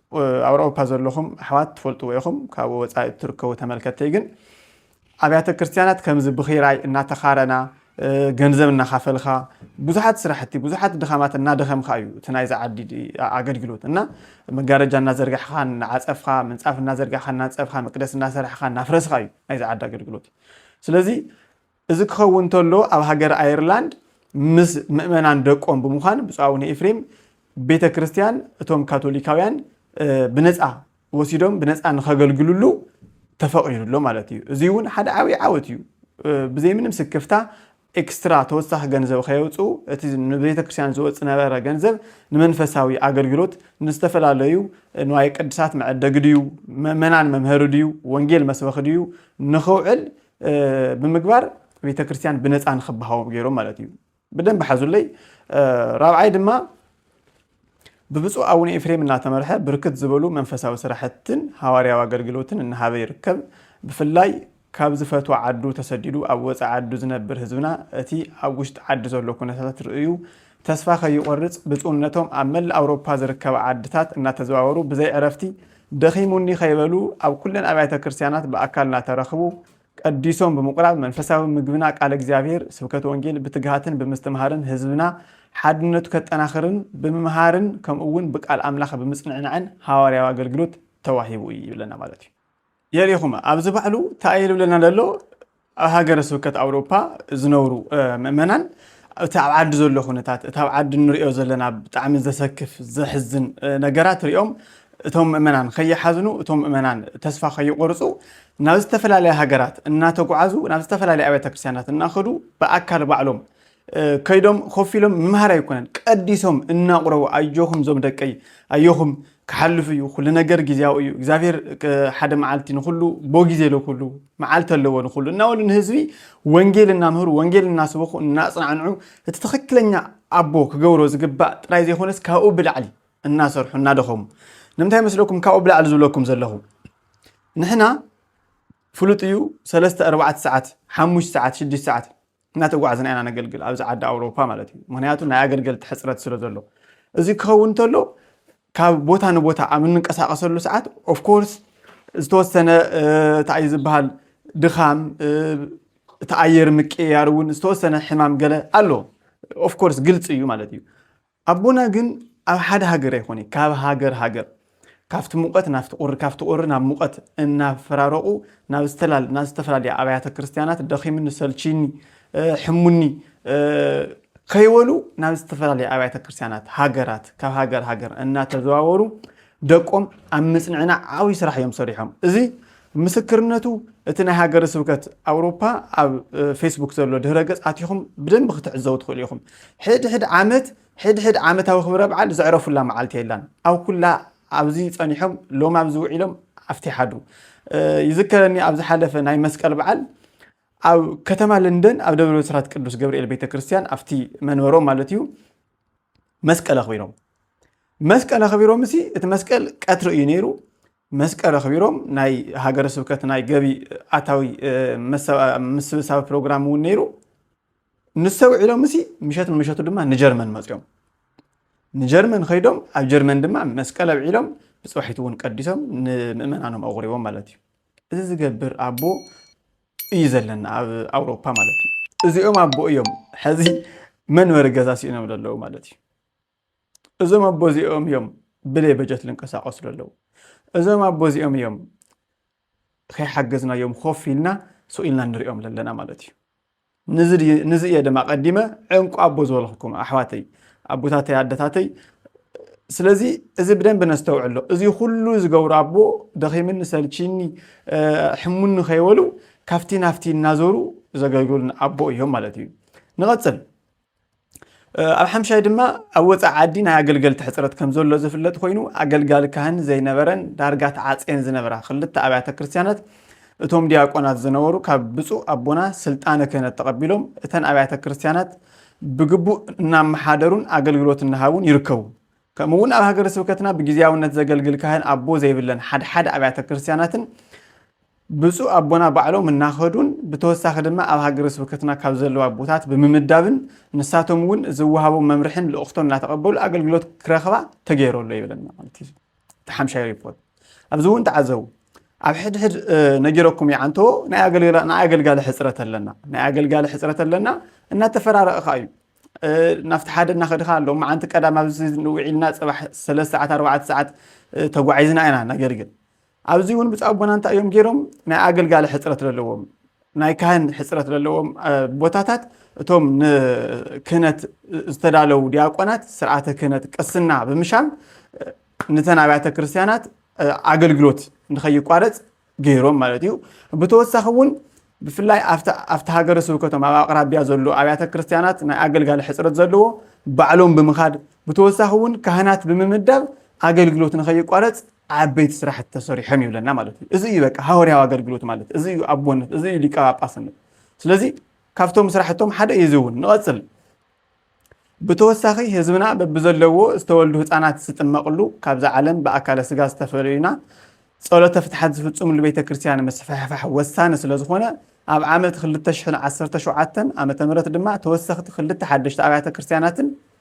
ኣብ ኣውሮፓ ዘለኹም ኣሕዋት ትፈልጥዎ ኢኹም፣ ካብ ወጻኢ እትርከቡ ተመልከትተይ ግን ኣብያተ ክርስትያናት ከምዚ ብኺራይ እናተኻረና ገንዘብ እናኻፈልካ ብዙሓት ስራሕቲ ብዙሓት ድኻማት እናደኸምካ እዩ እቲ ናይዚ ዓዲ ኣገልግሎት እና መጋረጃ እናዘርጋሕካ እናዓፀፍካ ምንፃፍ እናዘርጋሕካ እናንፀፍካ መቅደስ እናሰራሕካ እናፍረስካ እዩ ናይዚ ዓዲ ኣገልግሎት ስለዚ እዚ ክኸውን እንተሎ ኣብ ሃገረ ኣየርላንድ ምስ ምእመናን ደቆም ብምዃን ብፁዕ ኣቡነ ኤፍሬም ቤተ ክርስቲያን እቶም ካቶሊካውያን ብነፃ ወሲዶም ብነፃ ንኸገልግልሉ ተፈቒዱ ኣሎ ማለት እዩ። እዚ እውን ሓደ ዓብዪ ዓወት እዩ። ብዘይ ምንም ስክፍታ ኤክስትራ ተወሳኺ ገንዘብ ከየውፅኡ እቲ ንቤተ ክርስቲያን ዝወፅ ነበረ ገንዘብ ንመንፈሳዊ ኣገልግሎት ንዝተፈላለዩ ንዋየ ቅድሳት መዐደጊ ድዩ መመናን መምሀሪ ድዩ ወንጌል መስበኺ ድዩ ንኽውዕል ብምግባር ቤተ ክርስቲያን ብነፃ ንክበሃዎም ገይሮም ማለት እዩ። ብደንብ ሓዙለይ። ራብዓይ ድማ ብብፁዕ ኣቡነ ኤፍሬም እናተመርሐ ብርክት ዝበሉ መንፈሳዊ ስራሕትን ሃዋርያዊ ኣገልግሎትን እናሃበ ይርከብ። ብፍላይ ካብ ዝፈትዎ ዓዱ ተሰዲዱ ኣብ ወፃኢ ዓዱ ዝነብር ህዝብና እቲ ኣብ ውሽጢ ዓዲ ዘሎ ኩነታት ርእዩ ተስፋ ከይቆርጽ ብጹእነቶም ኣብ መላእ ኣውሮፓ ዝርከባ ዓድታት እናተዘዋወሩ ብዘይ ዕረፍቲ ደኺሙኒ ከይበሉ ኣብ ኩለን ኣብያተ ክርስቲያናት ብኣካል እናተረኽቡ ቀዲሶም ብምቁራብ መንፈሳዊ ምግብና ቃለ እግዚኣብሔር ስብከት ወንጌል ብትግሃትን ብምስትምሃርን ህዝብና ሓድነቱ ከጠናኽርን ብምምሃርን ከምኡውን ብቃል ኣምላኽ ብምጽንዕናዕን ሃዋርያዊ ኣገልግሎት ተዋሂቡ እዩ ይብለና ማለት እዩ። የሪኹም ኣብዚ ባዕሉ ታኣይ ልብለና ለሎ ኣብ ሃገረ ስብከት ኣውሮፓ ዝነብሩ ምእመናን እቲ ኣብ ዓዲ ዘሎ ኩነታት እቲ ኣብ ዓዲ ንሪኦ ዘለና ብጣዕሚ ዘሰክፍ ዘሕዝን ነገራት ሪኦም እቶም ምእመናን ከይሓዝኑ እቶም ምእመናን ተስፋ ከይቆርፁ ናብ ዝተፈላለያ ሃገራት እናተጓዓዙ ናብ ዝተፈላለየ ኣብያተ ክርስቲያናት እናኸዱ ብኣካል ባዕሎም ከይዶም ኮፍ ኢሎም ምምሃር ኣይኮነን ቀዲሶም እናቑረቡ ኣዮኹም ዞም ደቀይ ኣዮኹም ክሓልፍ እዩ ኩሉ ነገር ግዜያዊ እዩ እግዚኣብሔር ሓደ መዓልቲ ንኩሉ ቦ ግዜ ለኩሉ መዓልቲ ኣለዎ ንኩሉ እናበሉ ንህዝቢ ወንጌል እናምህሩ ወንጌል እናስበኹ እናፅናዕንዑ እቲ ትኽክለኛ ኣቦ ክገብሮ ዝግባእ ጥራይ ዘይኮነስ ካብኡ ብላዕሊ እናሰርሑ እናደኸሙ ንምንታይ መስለኩም ካብኡ ብላዕሊ ዝብለኩም ዘለኹ ንሕና ፍሉጥ እዩ ሰለስተ ኣርባዕተ ሰዓት ሓሙሽተ ሰዓት ሽዱሽተ ሰዓት እናተጓዕዝና ኢና ነገልግል ኣብዚ ዓዲ ኣውሮፓ ማለት እዩ ምክንያቱ ናይ ኣገልገልቲ ሕፅረት ስለ ዘሎ እዚ ክኸውን እንተሎ ካብ ቦታ ንቦታ ኣብ እንንቀሳቀሰሉ ሰዓት ኦፍኮርስ ዝተወሰነ እንታይ ዝበሃል ድኻም እቲ ኣየር ምቅያር እውን ዝተወሰነ ሕማም ገለ ኣሎ ኦፍኮርስ ግልፂ እዩ ማለት እዩ ኣቦና ግን ኣብ ሓደ ሃገር ኣይኮነይ ካብ ሃገር ሃገር ካብቲ ሙቀት ናብቲ ቁሪ ካብቲ ቁሪ ናብ ሙቀት እናፈራረቁ ናብ ዝተላል ናብ ዝተፈላለያ ኣብያተ ክርስትያናት ደኺምኒ ሰልቺኒ ሕሙኒ ከይበሉ ናብ ዝተፈላለያ ኣብያተ ክርስትያናት ሃገራት ካብ ሃገር ሃገር እናተዘዋወሩ ደቆም ኣብ ምጽንዕና ዓብይ ስራሕ እዮም ሰሪሖም። እዚ ምስክርነቱ እቲ ናይ ሃገረ ስብከት ኣውሮፓ ኣብ ፌስቡክ ዘሎ ድህረ ገጽ ኣቲኹም ብደንቢ ክትዕዘቡ ትኽእሉ ኢኹም። ሕድሕድ ዓመት ሕድሕድ ዓመታዊ ክብረ በዓል ዘዕረፉላ መዓልቲ የላን። ኣብ ኩላ ኣብዚ ጸኒሖም ሎም ኣብዚ ውዒሎም ኣብቲ ሓዱ ይዝከረኒ ኣብ ዝሓለፈ ናይ መስቀል በዓል ኣብ ከተማ ለንደን ኣብ ደብረ ብስራት ቅዱስ ገብርኤል ቤተ ክርስቲያን ኣብቲ መንበሮም ማለት እዩ መስቀል ኣኽቢሮም መስቀል ኣኽቢሮም እሲ እቲ መስቀል ቀትሪ እዩ ነይሩ መስቀል ኣኽቢሮም ናይ ሃገረ ስብከት ናይ ገቢ ኣታዊ ምስብሳብ ፕሮግራም እውን ነይሩ ንሰውዒሎም እሲ ምሸት ንምሸቱ ድማ ንጀርመን መፅኦም ንጀርመን ከይዶም ኣብ ጀርመን ድማ መስቀል ኣብዒሎም ብፅባሒት እውን ቀዲሶም ንምእመናኖም ኣቑሪቦም ማለት እዩ እዚ ዝገብር ኣቦ እዩ ዘለና ኣብ ኣውሮፓ ማለት እዩ። እዚኦም ኣቦ እዮም ሐዚ መንበሪ ገዛ ሲእኖም ዘለዉ ማለት እዩ። እዞም ኣቦ እዚኦም እዮም ብለይ በጀት ልንቀሳቀሱ ዘለዉ። እዞም ኣቦ እዚኦም እዮም ከይሓገዝናዮም ኮፍ ኢልና ስቕ ኢልና ንሪኦም ዘለና ማለት እዩ። ንዚ እየ ድማ ቀዲመ ዕንቁ ኣቦ ዝበልኩኩም ኣሕዋተይ። ኣቦታተይ ኣደታተይ ስለዚ እዚ ብደንብ ነስተውዕሎ እዚ ኩሉ ዝገብሩ ኣቦ ደኺምኒ ሰልቺኒ ሕሙኒ ከይበሉ ካብቲ ናፍቲ እናዞሩ ዘገልግሉን ኣቦ እዮም ማለት እዩ ንቐፅል ኣብ ሓምሻይ ድማ ኣብ ወፃኢ ዓዲ ናይ ኣገልገልቲ ሕፅረት ከም ዘሎ ዝፍለጥ ኮይኑ ኣገልጋሊ ካህን ዘይነበረን ዳርጋ ተዓፅየን ዝነበራ ክልተ ኣብያተ ክርስትያናት እቶም ዲያቆናት ዝነበሩ ካብ ብፁዕ ኣቦና ስልጣነ ክህነት ተቐቢሎም እተን ኣብያተ ክርስትያናት ብግቡእ እናመሓደሩን ኣገልግሎት እናሃቡን ይርከቡ። ከምኡ እውን ኣብ ሃገረ ስብከትና ብጊዜያውነት ዘገልግል ካህን ኣቦ ዘይብለን ሓደ ሓደ ኣብያተ ክርስቲያናትን ብፁዕ ኣቦና ባዕሎም እናኸዱን ብተወሳኺ ድማ ኣብ ሃገረ ስብከትና ካብ ዘለዉ ኣቦታት ብምምዳብን ንሳቶም እውን ዝወሃቦም መምርሕን ልእኽቶን እናተቐበሉ ኣገልግሎት ክረኽባ ተገይሩ ኣሎ ይብለና ማለት እዩ። ሓምሻይ ሪፖርት ኣብዚ እውን ተዓዘቡ ኣብ ሕድሕድ ነጊረኩም ይዓንቶ ናይ ኣገልጋሊ ሕፅረት ኣለና ናይ ኣገልጋሊ ሕፅረት ኣለና እናተፈራረቕኻ እዩ ናብቲ ሓደ እናኸድኻ ኣሎ መዓንቲ ቀዳም ኣብዚ ንውዒልና ፅባሕ ሰለስተ ሰዓት ኣርባዕተ ሰዓት ተጓዒዝና ኢና ነገልግል ኣብዚ እውን ብፃ ኣቦና እንታይ እዮም ገይሮም ናይ ኣገልጋሊ ሕፅረት ዘለዎም ናይ ካህን ሕጽረት ለለዎም ቦታታት እቶም ንክህነት ዝተዳለው ዲያቆናት ስርዓተ ክህነት ቅስና ብምሻም ንተን ኣብያተ ክርስቲያናት ኣገልግሎት ንኸይቋረጽ ገይሮም ማለት እዩ። ብተወሳኺ እውን ብፍላይ ኣብቲ ሃገረ ስብከቶም ኣብ ኣቕራቢያ ዘሎ ኣብያተ ክርስቲያናት ናይ ኣገልጋሊ ሕጽረት ዘለዎ ባዕሎም ብምኻድ ብተወሳኺ እውን ካህናት ብምምዳብ ኣገልግሎት ንኸይቋረፅ ዓበይቲ ስራሕቲ ተሰሪሖም ይብለና ማለት እዩ። እዚ እዩ በቃ ሃወርያዊ ኣገልግሎት ማለት እዚ እዩ ኣቦነት፣ እዚ እዩ ሊቀ ጳጳስነት። ስለዚ ካብቶም ስራሕቶም ሓደ እዩ እዚ እውን ንቐፅል ብተወሳኺ ህዝብና በብዘለዎ ዝተወልዱ ህፃናት ዝጥመቕሉ ካብዛ ዓለም ብኣካለ ስጋ ዝተፈለዩና ጸሎተ ፍትሓት ዝፍፅምሉ ቤተ ክርስቲያን ምስፍሕፋሕ ወሳኒ ስለዝኾነ ኣብ ዓመት 2017 ዓ ም ድማ ተወሰኽቲ ክልተ ሓደሽቲ ኣብያተ ክርስቲያናትን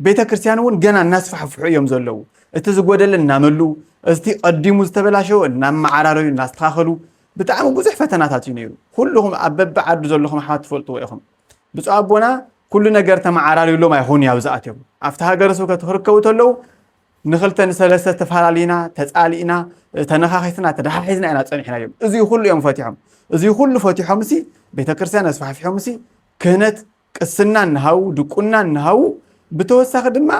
ቤተ ክርስቲያን እውን ገና እናስፋሕፍሑ እዮም ዘለዉ። እቲ ዝጎደለ እናመሉ እቲ ቀዲሙ ዝተበላሸወ እናመዓራረዩ እናስተኻኸሉ ብጣዕሚ ብዙሕ ፈተናታት እዩ ነይሩ። ኩልኹም ኣብ በቢ ዓዱ ዘለኹም ኣሕዋት ትፈልጥዎ ኢኹም። ብፁዕ ኣቦና ኩሉ ነገር ተመዓራርዩሎም ኣይኾኑ ኣብ ዝኣትዮም ኣብቲ ሃገረ ስብከት ክርከቡ ተለዉ ንክልተ ንሰለስተ ተፈላለና ተፃሊእና ተነኻኺስና ተደሓሒዝና ኢና ፀኒሕና እዮም እዚ ኩሉ እዮም ፈቲሖም እዚ ኩሉ ፈቲሖም ሲ ቤተክርስትያን ኣስፋሕፊሖም ሲ ክህነት ቅስና እናሃቡ፣ ድቁና እናሃቡ፣ ብተወሳኺ ድማ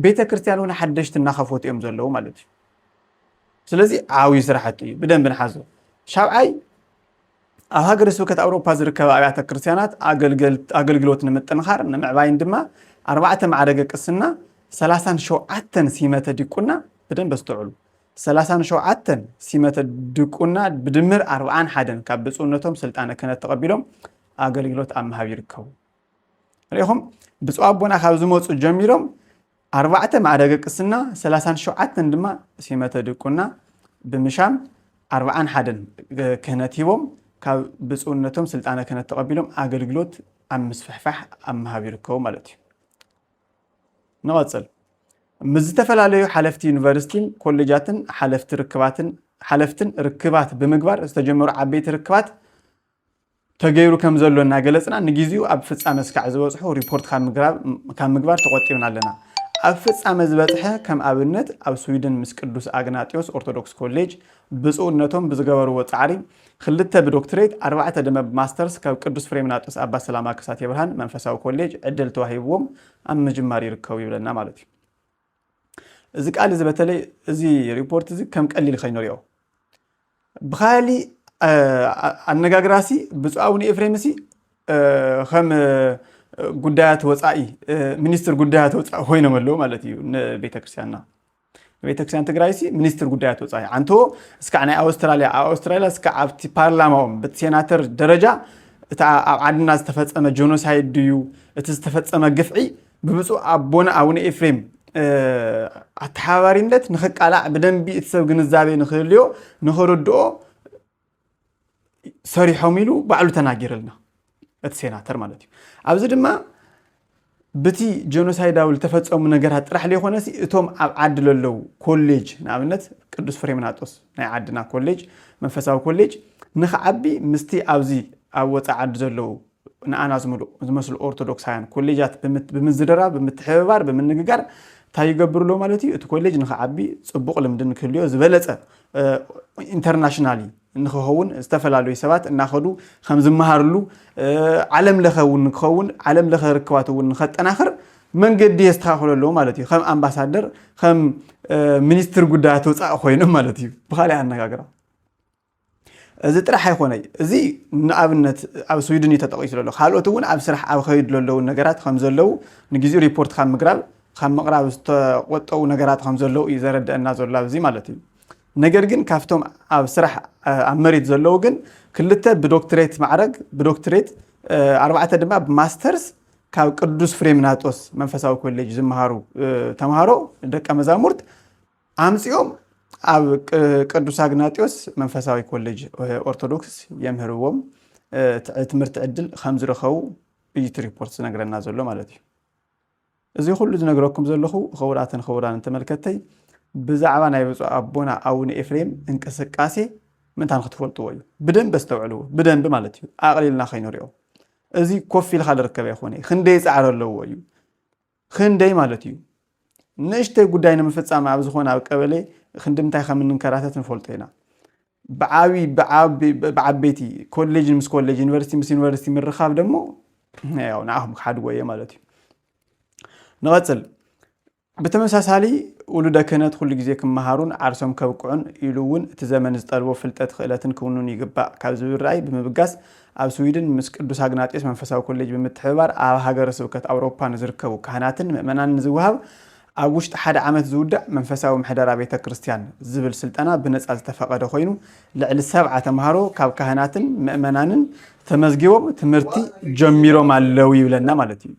ቤተ ክርስቲያን እውን ሓደሽቲ እናኸፈቱ እዮም ዘለዉ ማለት እዩ። ስለዚ ዓብዩ ስራሕቲ እዩ፣ ብደንብ ንሓዞ። ሻብዓይ ኣብ ሃገረ ስብከት ኣውሮፓ ዝርከባ ኣብያተ ክርስቲያናት ኣገልግሎት ንምጥንኻር ንምዕባይን ድማ ኣርባዕተ ማዕረገ ቅስና ሰላሳን ሸውዓተን ሲመተ ዲቁና ብደንብ ኣስተውዕሉ ሰላሳን ሸውዓተን ሲመተ ድቁና ብድምር ኣርብዓን ሓደን ካብ ብፁዕነቶም ስልጣነ ክህነት ተቐቢሎም ኣገልግሎት ኣብ ምሃብ ይርከቡ። ርኢኹም ብፁዕ ኣቦና ካብ ዝመፁ ጀሚሮም ኣርባዕተ ማዕረገ ቅስና ሰላሳን ሸውዓተን ድማ ሲመተ ድቁና ብምሻም ኣርባዓን ሓደን ክህነት ሂቦም ካብ ብፁዕነቶም ስልጣነ ክህነት ተቐቢሎም ኣገልግሎት ኣብ ምስፍሕፋሕ ኣብ ምሃብ ይርከቡ ማለት እዩ። ንቐፅል ምስ ዝተፈላለዩ ሓለፍቲ ዩኒቨርሲቲን ኮሌጃትን ሓለፍቲ ርክባትን ሓለፍትን ርክባት ብምግባር ዝተጀመሩ ዓበይቲ ርክባት ተገይሩ ከም ዘሎ እናገለፅና ንጊዚኡ ኣብ ፍፃመ ስካዕ ዝበፅሑ ሪፖርት ካብ ምግባር ተቖጢብና ኣለና። ኣብ ፍፃመ ዝበፅሐ ከም ኣብነት ኣብ ስዊድን ምስ ቅዱስ ኣግናጢዮስ ኦርቶዶክስ ኮሌጅ ብፁዕነቶም ብዝገበርዎ ፃዕሪ ኽልተ ብዶክትሬት ኣርባዕተ ደመ ብማስተርስ ካብ ቅዱስ ፍሬምናጦስ ኣባ ሰላማ ከሳቴ ብርሃን መንፈሳዊ ኮሌጅ ዕድል ተዋሂብዎም ኣብ ምጅማር ይርከቡ ይብለና ማለት እዩ። እዚ ቃል እዚ በተለይ እዚ ሪፖርት እዚ ከም ቀሊል ከይንሪኦ ብካሊእ ኣነጋግራሲ ብፁዕ ኣቡነ ኤፍሬም ሲ ከም ጉዳያት ወፃኢ ሚኒስትር ጉዳያት ወፃኢ ኮይኖም ኣለዉ ማለት እዩ ንቤተክርስትያንና ቤተክርስትያን ትግራይ ሲ ሚኒስትር ጉዳያት ወፃኢ ኣንቶ እስካዕ ናይ ኣውስትራሊያ ኣብ ኣውስትራሊያ እስካዕ ኣብቲ ፓርላማኦም በቲ ሴናተር ደረጃ እቲ ኣብ ዓድና ዝተፈፀመ ጆኖሳይድ ድዩ እቲ ዝተፈፀመ ግፍዒ ብብፁዕ ኣቦና ኣቡነ ኤፍሬም ኣተሓባባሪነት ንክቃላዕ ብደንቢ እቲ ሰብ ግንዛቤ ንክህልዮ ንክርድኦ ሰሪሖም ኢሉ ባዕሉ ተናጊረልና እቲ ሴናተር ማለት እዩ ኣብዚ ድማ ብቲ ጀኖሳይዳዊ ዝተፈፀሙ ነገራት ጥራሕ ዘይኮነ እቶም ኣብ ዓዲ ለለው ኮሌጅ ንኣብነት ቅዱስ ፍሬምናጦስ ናይ ዓድና ኮሌጅ መንፈሳዊ ኮሌጅ ንክዓቢ ምስቲ ኣብዚ ኣብ ወፃኢ ዓዲ ዘለዉ ንኣና ዝመስሉ ኦርቶዶክሳውያን ኮሌጃት ብምዝርራብ፣ ብምትሕብባር፣ ብምንግጋር እንታይ ይገብሩ ኣለዉ ማለት እዩ? እቲ ኮሌጅ ንኽዓቢ ጽቡቕ ልምዲ ንክህልዮ ዝበለጸ ኢንተርናሽናሊ ንክኸውን ዝተፈላለዩ ሰባት እናኸዱ ከም ዝመሃርሉ ዓለም ለኸ እውን ንክኸውን ዓለም ለኸ ርክባት እውን ንኸጠናኽር መንገዲ የስተኻኽሎ ኣለዎ ማለት እዩ ከም ኣምባሳደር ከም ሚኒስትር ጉዳያት ወፃኢ ኮይኖም ማለት እዩ ብካሊእ ኣነጋግራ እዚ ጥራሕ ኣይኮነይ እዚ ንኣብነት ኣብ ስዊድን እዩ ተጠቂሱ ዘሎ ካልኦት እውን ኣብ ስራሕ ኣብ ከይዱ ዘለዉ ነገራት ከም ዘለዉ ንግዚኡ ሪፖርት ካብ ምግራብ ካብ ምቕራብ ዝተቆጠቡ ነገራት ከም ዘለዉ እዩ ዘረደአና ዘሎ ኣብዚ ማለት እዩ ነገር ግን ካብቶም ኣብ ስራሕ ኣብ መሬት ዘለዉ ግን ክልተ ብዶክትሬት ማዕረግ ብዶክትሬት ኣርባዕተ ድማ ብማስተርስ ካብ ቅዱስ ፍሬምናጦስ መንፈሳዊ ኮሌጅ ዝመሃሩ ተምሃሮ ደቀ መዛሙርት ኣምጺኦም ኣብ ቅዱስ ኣግናጢዮስ መንፈሳዊ ኮሌጅ ኦርቶዶክስ የምህርዎም ትምህርቲ ዕድል ከም ዝረኸቡ እዩ እቲ ሪፖርት ዝነግረና ዘሎ ማለት እዩ እዚ ኩሉ ዝነግረኩም ዘለኹ ክቡራትን ክቡራንን ተመልከተይ ብዛዕባ ናይ ብፁዕ ኣቦና ኣቡነ ኤፍሬም እንቅስቃሴ ምንታን ክትፈልጥዎ እዩ ብደንብ ኣስተውዕልዎ ብደንብ ማለት እዩ ኣቕሊልና ከይንሪኦ እዚ ኮፍ ኢልካ ዝርከብ ኣይኮነ ክንደይ ፃዕሪ ኣለዎ እዩ ኽንደይ ማለት እዩ? ንእሽተይ ጉዳይ ንምፍጻም ኣብ ዝኾነ ኣብ ቀበሌ ኽንዲ ምንታይ ከም እንንከራተት ንፈልጦ ኢና። ብዓቢ ብዓበይቲ ኮሌጅ ምስ ኮሌጅ ዩኒቨርሲቲ ምስ ዩኒቨርሲቲ ምርኻብ ደሞ ያው ንዓኹም ክሓድጎ እየ ማለት እዩ። ንቐጽል ብተመሳሳሊ ውሉደ ክህነት ኩሉ ግዜ ክመሃሩን ዓርሶም ከብቅዑን ኢሉ እውን እቲ ዘመን ዝጠልቦ ፍልጠት ክእለትን ክውኑን ይግባእ ካብ ዝብል ራእይ ብምብጋስ ኣብ ስዊድን ምስ ቅዱስ ኣግናጢዮስ መንፈሳዊ ኮሌጅ ብምትሕብባር ኣብ ሃገረ ስብከት ኣውሮፓ ንዝርከቡ ካህናትን ምእመናንን ዝወሃብ ኣብ ውሽጢ ሓደ ዓመት ዝውዳእ መንፈሳዊ ምሕደራ ቤተ ክርስቲያን ዝብል ስልጠና ብነፃ ዝተፈቐደ ኮይኑ ልዕሊ ሰብዓ ተምሃሮ ካብ ካህናትን ምእመናንን ተመዝጊቦም ትምህርቲ ጀሚሮም ኣለው ይብለና ማለት እዩ።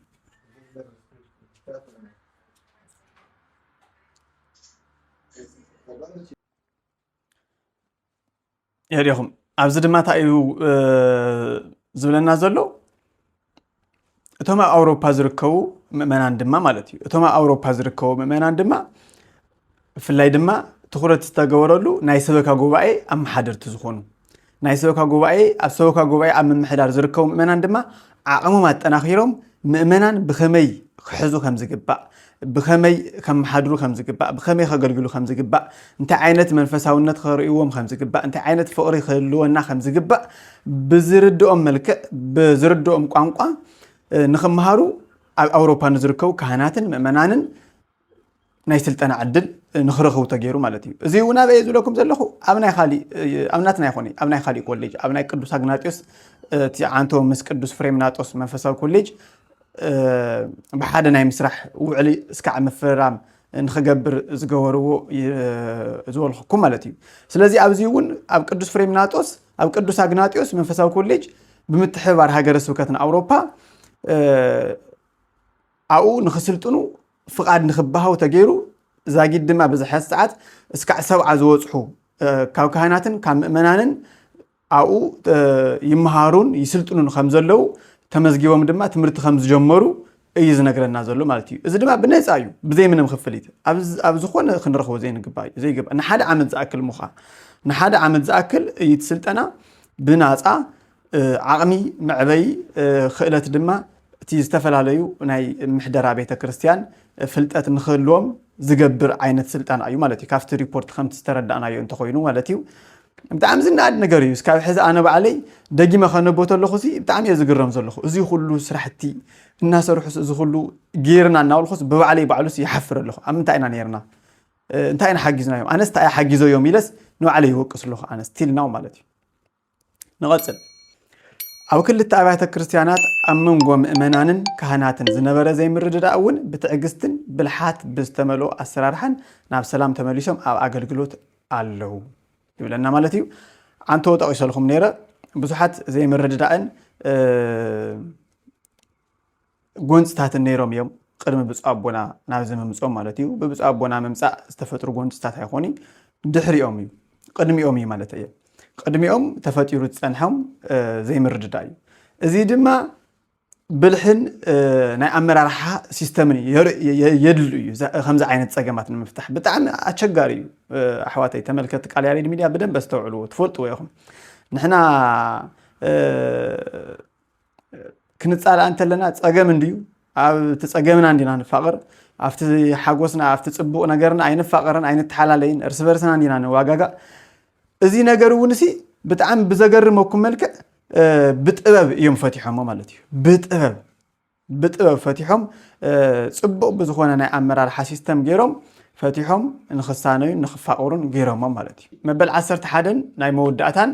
የሪኹም ኣብዚ ድማ እንታይ እዩ ዝብለና ዘሎ እቶም ኣብ ኣውሮፓ ዝርከቡ ምእመናን ድማ ማለት እዩ እቶም ኣብ ኣውሮፓ ዝርከቡ ምእመናን ድማ ብፍላይ ድማ ትኩረት ዝተገበረሉ ናይ ሰበካ ጉባኤ ኣመሓደርቲ ዝኾኑ ናይ ሰበካ ጉባኤ ኣብ ሰበካ ጉባኤ ኣብ ምምሕዳር ዝርከቡ ምእመናን ድማ ዓቕሞም ኣጠናኺሮም ምእመናን ብኸመይ ክሕዙ ከም ዝግባእ ብኸመይ ከመሓድሩ ከም ዝግባእ ብኸመይ ከገልግሉ ከም ዝግባእ እንታይ ዓይነት መንፈሳውነት ከርእይዎም ከም ዝግባእ እንታይ ዓይነት ፍቕሪ ክህልወና ከም ዝግባእ ብዝርድኦም መልክዕ ብዝርድኦም ቋንቋ ንክመሃሩ ኣብ ኣውሮፓ ንዝርከቡ ካህናትን ምእመናንን ናይ ስልጠና ዕድል ንክረኽቡ ተገይሩ ማለት እዩ እዚ እውን ኣበየ ዝብለኩም ዘለኹ ኣብ ናይ ካሊእ ኣብ ናትና ይኾነ ኣብ ናይ ካሊእ ኮሌጅ ኣብ ናይ ቅዱስ ኣግናጢዮስ እቲ ዓንቶ ምስ ቅዱስ ፍሬምናጦስ መንፈሳዊ ኮሌጅ ብሓደ ናይ ምስራሕ ውዕሊ እስካዕ ምፍርራም ንክገብር ዝገበርዎ ዝበልኩኩም ማለት እዩ ስለዚ ኣብዚ እውን ኣብ ቅዱስ ፍሬምናጦስ ኣብ ቅዱስ ኣግናጢዮስ መንፈሳዊ ኮሌጅ ብምትሕብባር ሃገረ ስብከትን ኣውሮፓ ኣብኡ ንክስልጥኑ ፍቓድ ንክበሃው ተገይሩ፣ ዛጊድ ድማ በዚ ሕዚ ሰዓት እስካዕ ሰብዓ ዝበጽሑ ካብ ካህናትን ካብ ምእመናንን ኣብኡ ይመሃሩን ይስልጥኑን ከም ዘለው ተመዝጊቦም ድማ ትምህርቲ ከም ዝጀመሩ እዩ ዝነግረና ዘሎ ማለት እዩ። እዚ ድማ ብነፃ እዩ ብዘይ ምንም ክፍሊት ኣብ ዝኾነ ክንረኽቦ ዘይንግባ እዩ ዘይግባ ንሓደ ዓመት ዝኣክል ምዃ ንሓደ ዓመት ዝኣክል እዩ እቲ ስልጠና ብናፃ ዓቕሚ መዕበዪ ኽእለት ድማ እቲ ዝተፈላለዩ ናይ ምሕደራ ቤተ ክርስቲያን ፍልጠት ንክህልዎም ዝገብር ዓይነት ስልጠና እዩ ማለት እዩ ካብቲ ሪፖርት ከምቲ ዝተረዳእናዮ እንተኮይኑ ማለት እዩ ብጣዕሚ ዝነኣድ ነገር እዩ እስካብ ሕዚ ኣነ ባዕለይ ደጊመ ከነቦ ተለኹ ሲ ብጣዕሚ እየ ዝግረም ዘለኹ እዚ ኩሉ ስራሕቲ እናሰርሑስ እዚ ኩሉ ጌርና እናበልኩስ ብባዕለይ ባዕሉስ ይሓፍር ኣለኹ ኣብ ምንታይ ኢና ነርና እንታይ ኢና ሓጊዝናዮም ኣነስ እንታይ ሓጊዞዮም ኢለስ ንባዕለይ ይወቅስ ኣለኹ ኣነ ስቲል ናው ማለት እዩ ንቐጽል ኣብ ክልተ ኣብያተ ክርስቲያናት ኣብ መንጎ ምእመናንን ካህናትን ዝነበረ ዘይምርድዳእ እውን ብትዕግስትን ብልሓት ብዝተመልኦ ኣሰራርሓን ናብ ሰላም ተመሊሶም ኣብ ኣገልግሎት ኣለው ይብለና ማለት እዩ ዓንተዎ ጠቒሰልኩም ነይረ ብዙሓት ዘይምርድዳእን ጎንፅታትን ነይሮም እዮም ቕድሚ ብፁዕ ኣቦና ናብዚ ምምፅኦም ማለት እዩ ብብፁዕ ኣቦና ምምፃእ ዝተፈጥሩ ጎንፅታት ኣይኾኒ ድሕሪኦም እዩ ቅድሚኦም እዩ ማለት እየ ቅድሚኦም ተፈጢሩ ዝፀንሖም ዘይምርድዳ እዩ እዚ ድማ ብልሕን ናይ ኣመራርሓ ሲስተምን የድሉ እዩ ከምዚ ዓይነት ፀገማት ንምፍታሕ ብጣዕሚ ኣቸጋሪ እዩ ኣሕዋተይ ተመልከቲ ቃል ያሬድ ሚድያ ብደንብ ኣስተውዕልዎ ትፈልጥዎ ኢኹም ንሕና ክንፃላእ እንተለና ፀገም እንድዩ ኣብቲ ፀገምና እንዲና ንፋቕር ኣብቲ ሓጎስና ኣብቲ ፅቡቕ ነገርና ኣይንፋቐርን ኣይንተሓላለይን እርስ በርስና እንዲና ንዋጋጋእ እዚ ነገር እውን ሲ ብጣዕሚ ብዘገርመኩም መልክዕ ብጥበብ እዮም ፈቲሖሞ ማለት እዩ ብጥበብ ብጥበብ ፈቲሖም ፅቡቕ ብዝኾነ ናይ ኣመራርሓ ሲስተም ገይሮም ፈቲሖም ንክሳነዩን ንክፋቕሩን ገይሮሞም ማለት እዩ መበል 11 ናይ መወዳእታን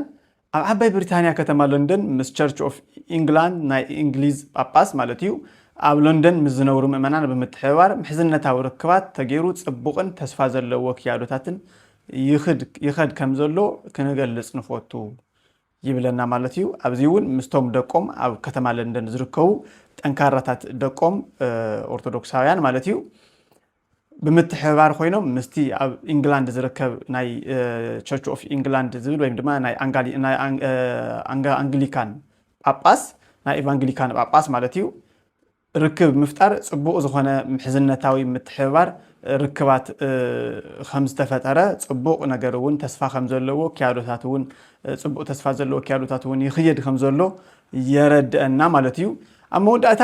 ኣብ ዓባይ ብሪታንያ ከተማ ሎንደን ምስ ቸርች ኦፍ ኢንግላንድ ናይ እንግሊዝ ጳጳስ ማለት እዩ ኣብ ሎንደን ምስ ዝነብሩ ምእመናን ብምትሕብባር ምሕዝነታዊ ርክባት ተገይሩ ጽቡቕን ተስፋ ዘለዎ ክያዶታትን ይኸድ ከም ዘሎ ክንገልጽ ንፈቱ ይብለና ማለት እዩ። ኣብዚ እውን ምስቶም ደቆም ኣብ ከተማ ለንደን ዝርከቡ ጠንካራታት ደቆም ኦርቶዶክሳውያን ማለት እዩ ብምትሕብባር ኮይኖም ምስቲ ኣብ ኢንግላንድ ዝርከብ ናይ ቸርች ኦፍ ኢንግላንድ ዝብል ወይም ድማ ናይ ኣንግሊካን ጳጳስ ናይ ኤቫንግሊካን ጳጳስ ማለት እዩ ርክብ ምፍጣር ጽቡቕ ዝኾነ ምሕዝነታዊ ምትሕብባር ርክባት ከም ዝተፈጠረ ጽቡቕ ነገር እውን ተስፋ ከም ዘለዎ ክያዶታት እውን ጽቡቕ ተስፋ ዘለዎ ክያዶታት እውን ይኽየድ ከም ዘሎ የረድአና ማለት እዩ ኣብ መወዳእታ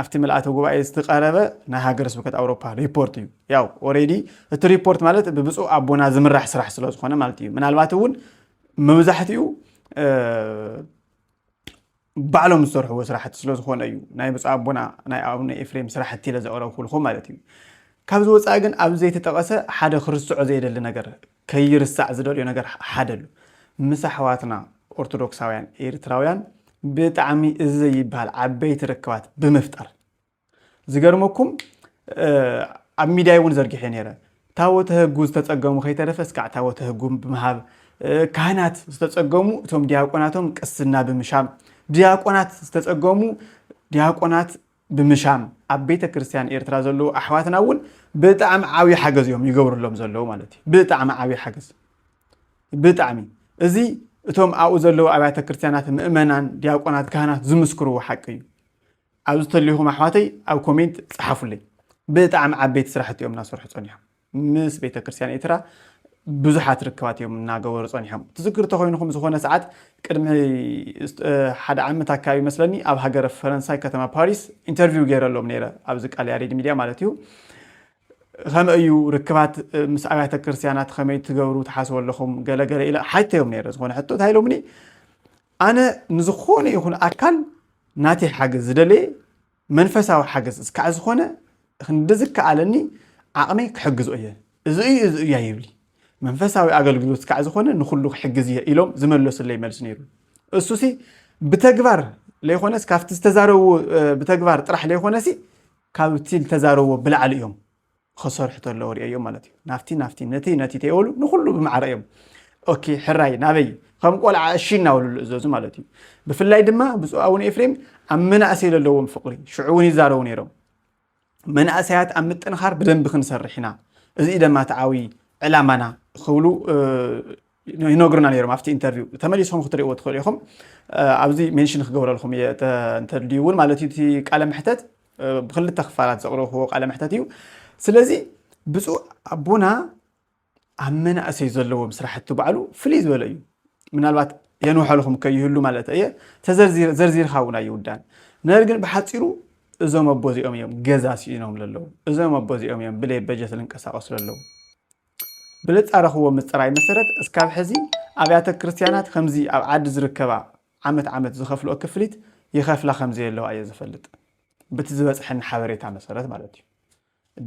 ኣብቲ ምልኣተ ጉባኤ ዝትቀረበ ናይ ሃገረ ስብከት ኣውሮፓ ሪፖርት እዩ ያው ኦሬዲ እቲ ሪፖርት ማለት ብብፁዕ ኣቦና ዝምራሕ ስራሕ ስለ ዝኾነ ማለት እዩ ምናልባት እውን መብዛሕትኡ ባዕሎም ዝሰርሕዎ ስራሕቲ ስለ ዝኾነ እዩ ናይ ብፁዕ ኣቦና ናይ ኣቡነ ኤፍሬም ስራሕቲ ኢለ ዘቕረብኩልኹም ማለት እዩ ካብዚ ወፃኢ ግን ኣብ ዘይተጠቐሰ ሓደ ክርስዖ ዘይደሊ ነገር ከይርሳዕ ዝደልዮ ነገር ሓደ ኣሉ ምስ ኣሕዋትና ኦርቶዶክሳውያን ኤሪትራውያን ብጣዕሚ እዚ ዘይብሃል ዓበይቲ ርክባት ብምፍጣር ዝገርመኩም ኣብ ሚድያ እውን ዘርጊሐ ነይረ ታወተ ህጉ ዝተፀገሙ ከይተረፈ እስካዕ ታወተ ህጉ ብምሃብ ካህናት ዝተፀገሙ እቶም ዲያቆናቶም ቅስና ብምሻም ዲያቆናት ዝተፀገሙ ዲያቆናት ብምሻም ኣብ ቤተ ክርስትያን ኤርትራ ዘለዉ ኣሕዋትና እውን ብጣዕሚ ዓብዪ ሓገዝ እዮም ይገብርሎም ዘለዉ ማለት እዩ ብጣዕሚ ዓብዪ ሓገዝ ብጣዕሚ እዚ እቶም ኣብኡ ዘለዉ ኣብያተ ክርስትያናት ምእመናን ዲያቆናት ካህናት ዝምስክርዎ ሓቂ እዩ ኣብዚ ተልኹም ኣሕዋተይ ኣብ ኮሜንት ፀሓፉለይ ብጣዕሚ ዓበይቲ ስራሕቲ እዮም እናሰርሑ ፀኒሖም ምስ ቤተክርስትያን ኤርትራ ብዙሓት ርክባት እዮም እናገበሩ ጸኒሖም። ትዝክሩ ተኾይንኹም ዝኾነ ሰዓት ቅድሚ ሓደ ዓመት ኣካባቢ መስለኒ ኣብ ሃገረ ፈረንሳይ ከተማ ፓሪስ ኢንተርቪው ገይረሎም ነይረ ኣብዚ ቃል ያሬድ ሚድያ ማለት እዩ ከመይ እዩ ርክባት ምስ ኣብያተ ክርስትያናት ከመይ ትገብሩ ትሓስቡ ኣለኹም ገለገለ ኢለ ሓተዮም ነይረ ዝኾነ ሕቶ እንታይ ኢሎምኒ ኣነ ንዝኾነ ይኹን ኣካል ናተይ ሓገዝ ዝደለየ መንፈሳዊ ሓገዝ ዝካዕ ዝኾነ ክንዲ ዝከኣለኒ ዓቕመይ ክሕግዞ እየ፣ እዚ እዩ እዚ እዩ ኣይብሊ። መንፈሳዊ ኣገልግሎት ዝካዕ ዝኾነ ንኹሉ ክሕግዝ እየ ኢሎም ዝመለሱለይ መልሲ ነይሩ። እሱሲ ብተግባር ለይኾነስ ካብቲ ዝተዛረብዎ ብተግባር ጥራሕ ለይኾነሲ ካብቲ ዝተዛረብዎ ብላዕሊ እዮም ኸሰርሑ ተለዉ ርእዮም ማለት እዩ ናፍቲ ናፍቲ ነቲ ነቲ ተይበሉ ንኹሉ ብማዕረ እዮም ኦኬ ሕራይ ናበይ ከም ቆልዓ እሺ እናበሉ ዝእዘዙ ማለት እዩ ብፍላይ ድማ ብፁዕ ኣቡነ ኤፍሬም ኣብ መናእሰይ ዘለዎም ፍቕሪ ሽዑ እውን ይዛረቡ ነይሮም መናእሰያት ኣብ ምጥንኻር ብደንቢ ክንሰርሕ ኢና እዚ ደማ ተዓዊ ዕላማና ክብሉ ይነግሩና ነይሮም ኣብቲ ኢንተርቪው ተመሊስኩም ክትሪእዎ ትኽእሉ ኢኹም ኣብዚ ሜንሽን ክገብረልኩም እየ እንተድልዩ እውን ማለት እዩ እቲ ቃለ መሕተት ብክልተ ክፋላት ዘቕረብክዎ ቃለ መሕተት እዩ ስለዚ ብፁዕ ኣቦና ኣብ መናእሰይ ዘለዎም ስራሕቲ ባዕሉ ፍልይ ዝበለ እዩ ምናልባት የንውሐልኹም ከይህሉ ማለት እየ ተዘርዚርካ እውን ኣይውዳን ነገር ግን ብሓፂሩ እዞም ኣቦ እዚኦም እዮም ገዛ ስኢኖም ለለዉ እዞም ኣቦ እዚኦም እዮም ብለይ በጀት ዝንቀሳቀሱ ለለዉ ብለጻረኽዎ ምጽራይ መሰረት እስካብ ሕዚ ኣብያተ ክርስትያናት ኸምዚ ኣብ ዓዲ ዝርከባ ዓመት ዓመት ዝኸፍልኦ ክፍሊት ይኸፍላ ከምዘየለዋ እየ ዝፈልጥ ብቲ ዝበጽሐኒ ሓበሬታ መሰረት ማለት እዩ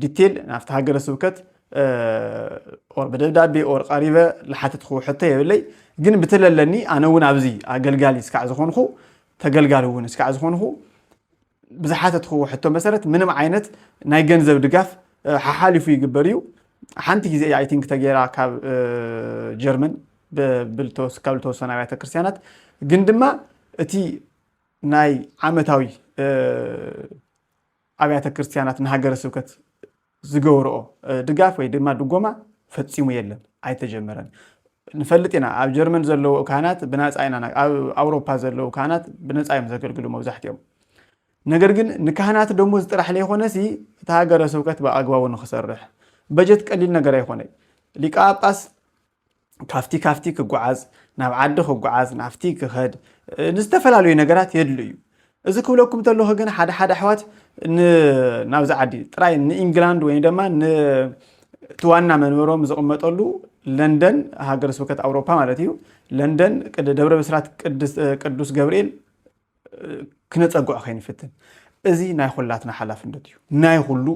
ዲቴል ናብቲ ሃገረ ስብከት ኦር ብደብዳቤ ኦር ቀሪበ ዝሓተትክዎ ሕቶ የብለይ ግን ብትለለኒ ኣነ እውን ኣብዚ ኣገልጋሊ እስካዕ ዝኾንኹ ተገልጋሊ እውን እስካዕ ዝኾንኹ ብዝሓተትክዎ ሕቶ መሰረት ምንም ዓይነት ናይ ገንዘብ ድጋፍ ሓሓሊፉ ይግበር እዩ ሓንቲ ግዜ እያ ኣይቲንክ ተገይራ ካብ ጀርመን ካብ ዝተወሰነ ኣብያተ ክርስትያናት ግን ድማ እቲ ናይ ዓመታዊ ኣብያተ ክርስትያናት ንሃገረ ስብከት ዝገብርኦ ድጋፍ ወይ ድማ ድጎማ ፈጺሙ የለን ኣይተጀመረን ንፈልጥ ኢና ኣብ ጀርመን ዘለዉ ካህናት ብናጻ ኢና ኣብ ኣውሮፓ ዘለዉ ካህናት ብነጻ እዮም ዘገልግሉ መብዛሕትኦም ነገር ግን ንካህናት ደሞዝ ጥራሕ ለይኮነሲ እቲ ሃገረ ስብከት ብኣግባቡ ንክሰርሕ በጀት ቀሊል ነገር ኣይኮነይ ሊቀ ጳጳስ ካብቲ ካብቲ ክጓዓዝ ናብ ዓዲ ክጓዓዝ ናብቲ ክኸድ ንዝተፈላለዩ ነገራት የድሉ እዩ እዚ ክብለኩም ተለኹ ግን ሓደ ሓደ ኣሕዋት ናብዚ ዓዲ ጥራይ ንኢንግላንድ ወይ ድማ እቲ ዋና መንበሮም ዝቕመጠሉ ለንደን ሃገረ ስብከት ኣውሮፓ ማለት እዩ ለንደን ደብረ ብስራት ቅዱስ ገብርኤል ክነጸግዖ ከይንፍትን። እዚ ናይ ኹላትና ሓላፍነት እዩ። ናይ ኹሉ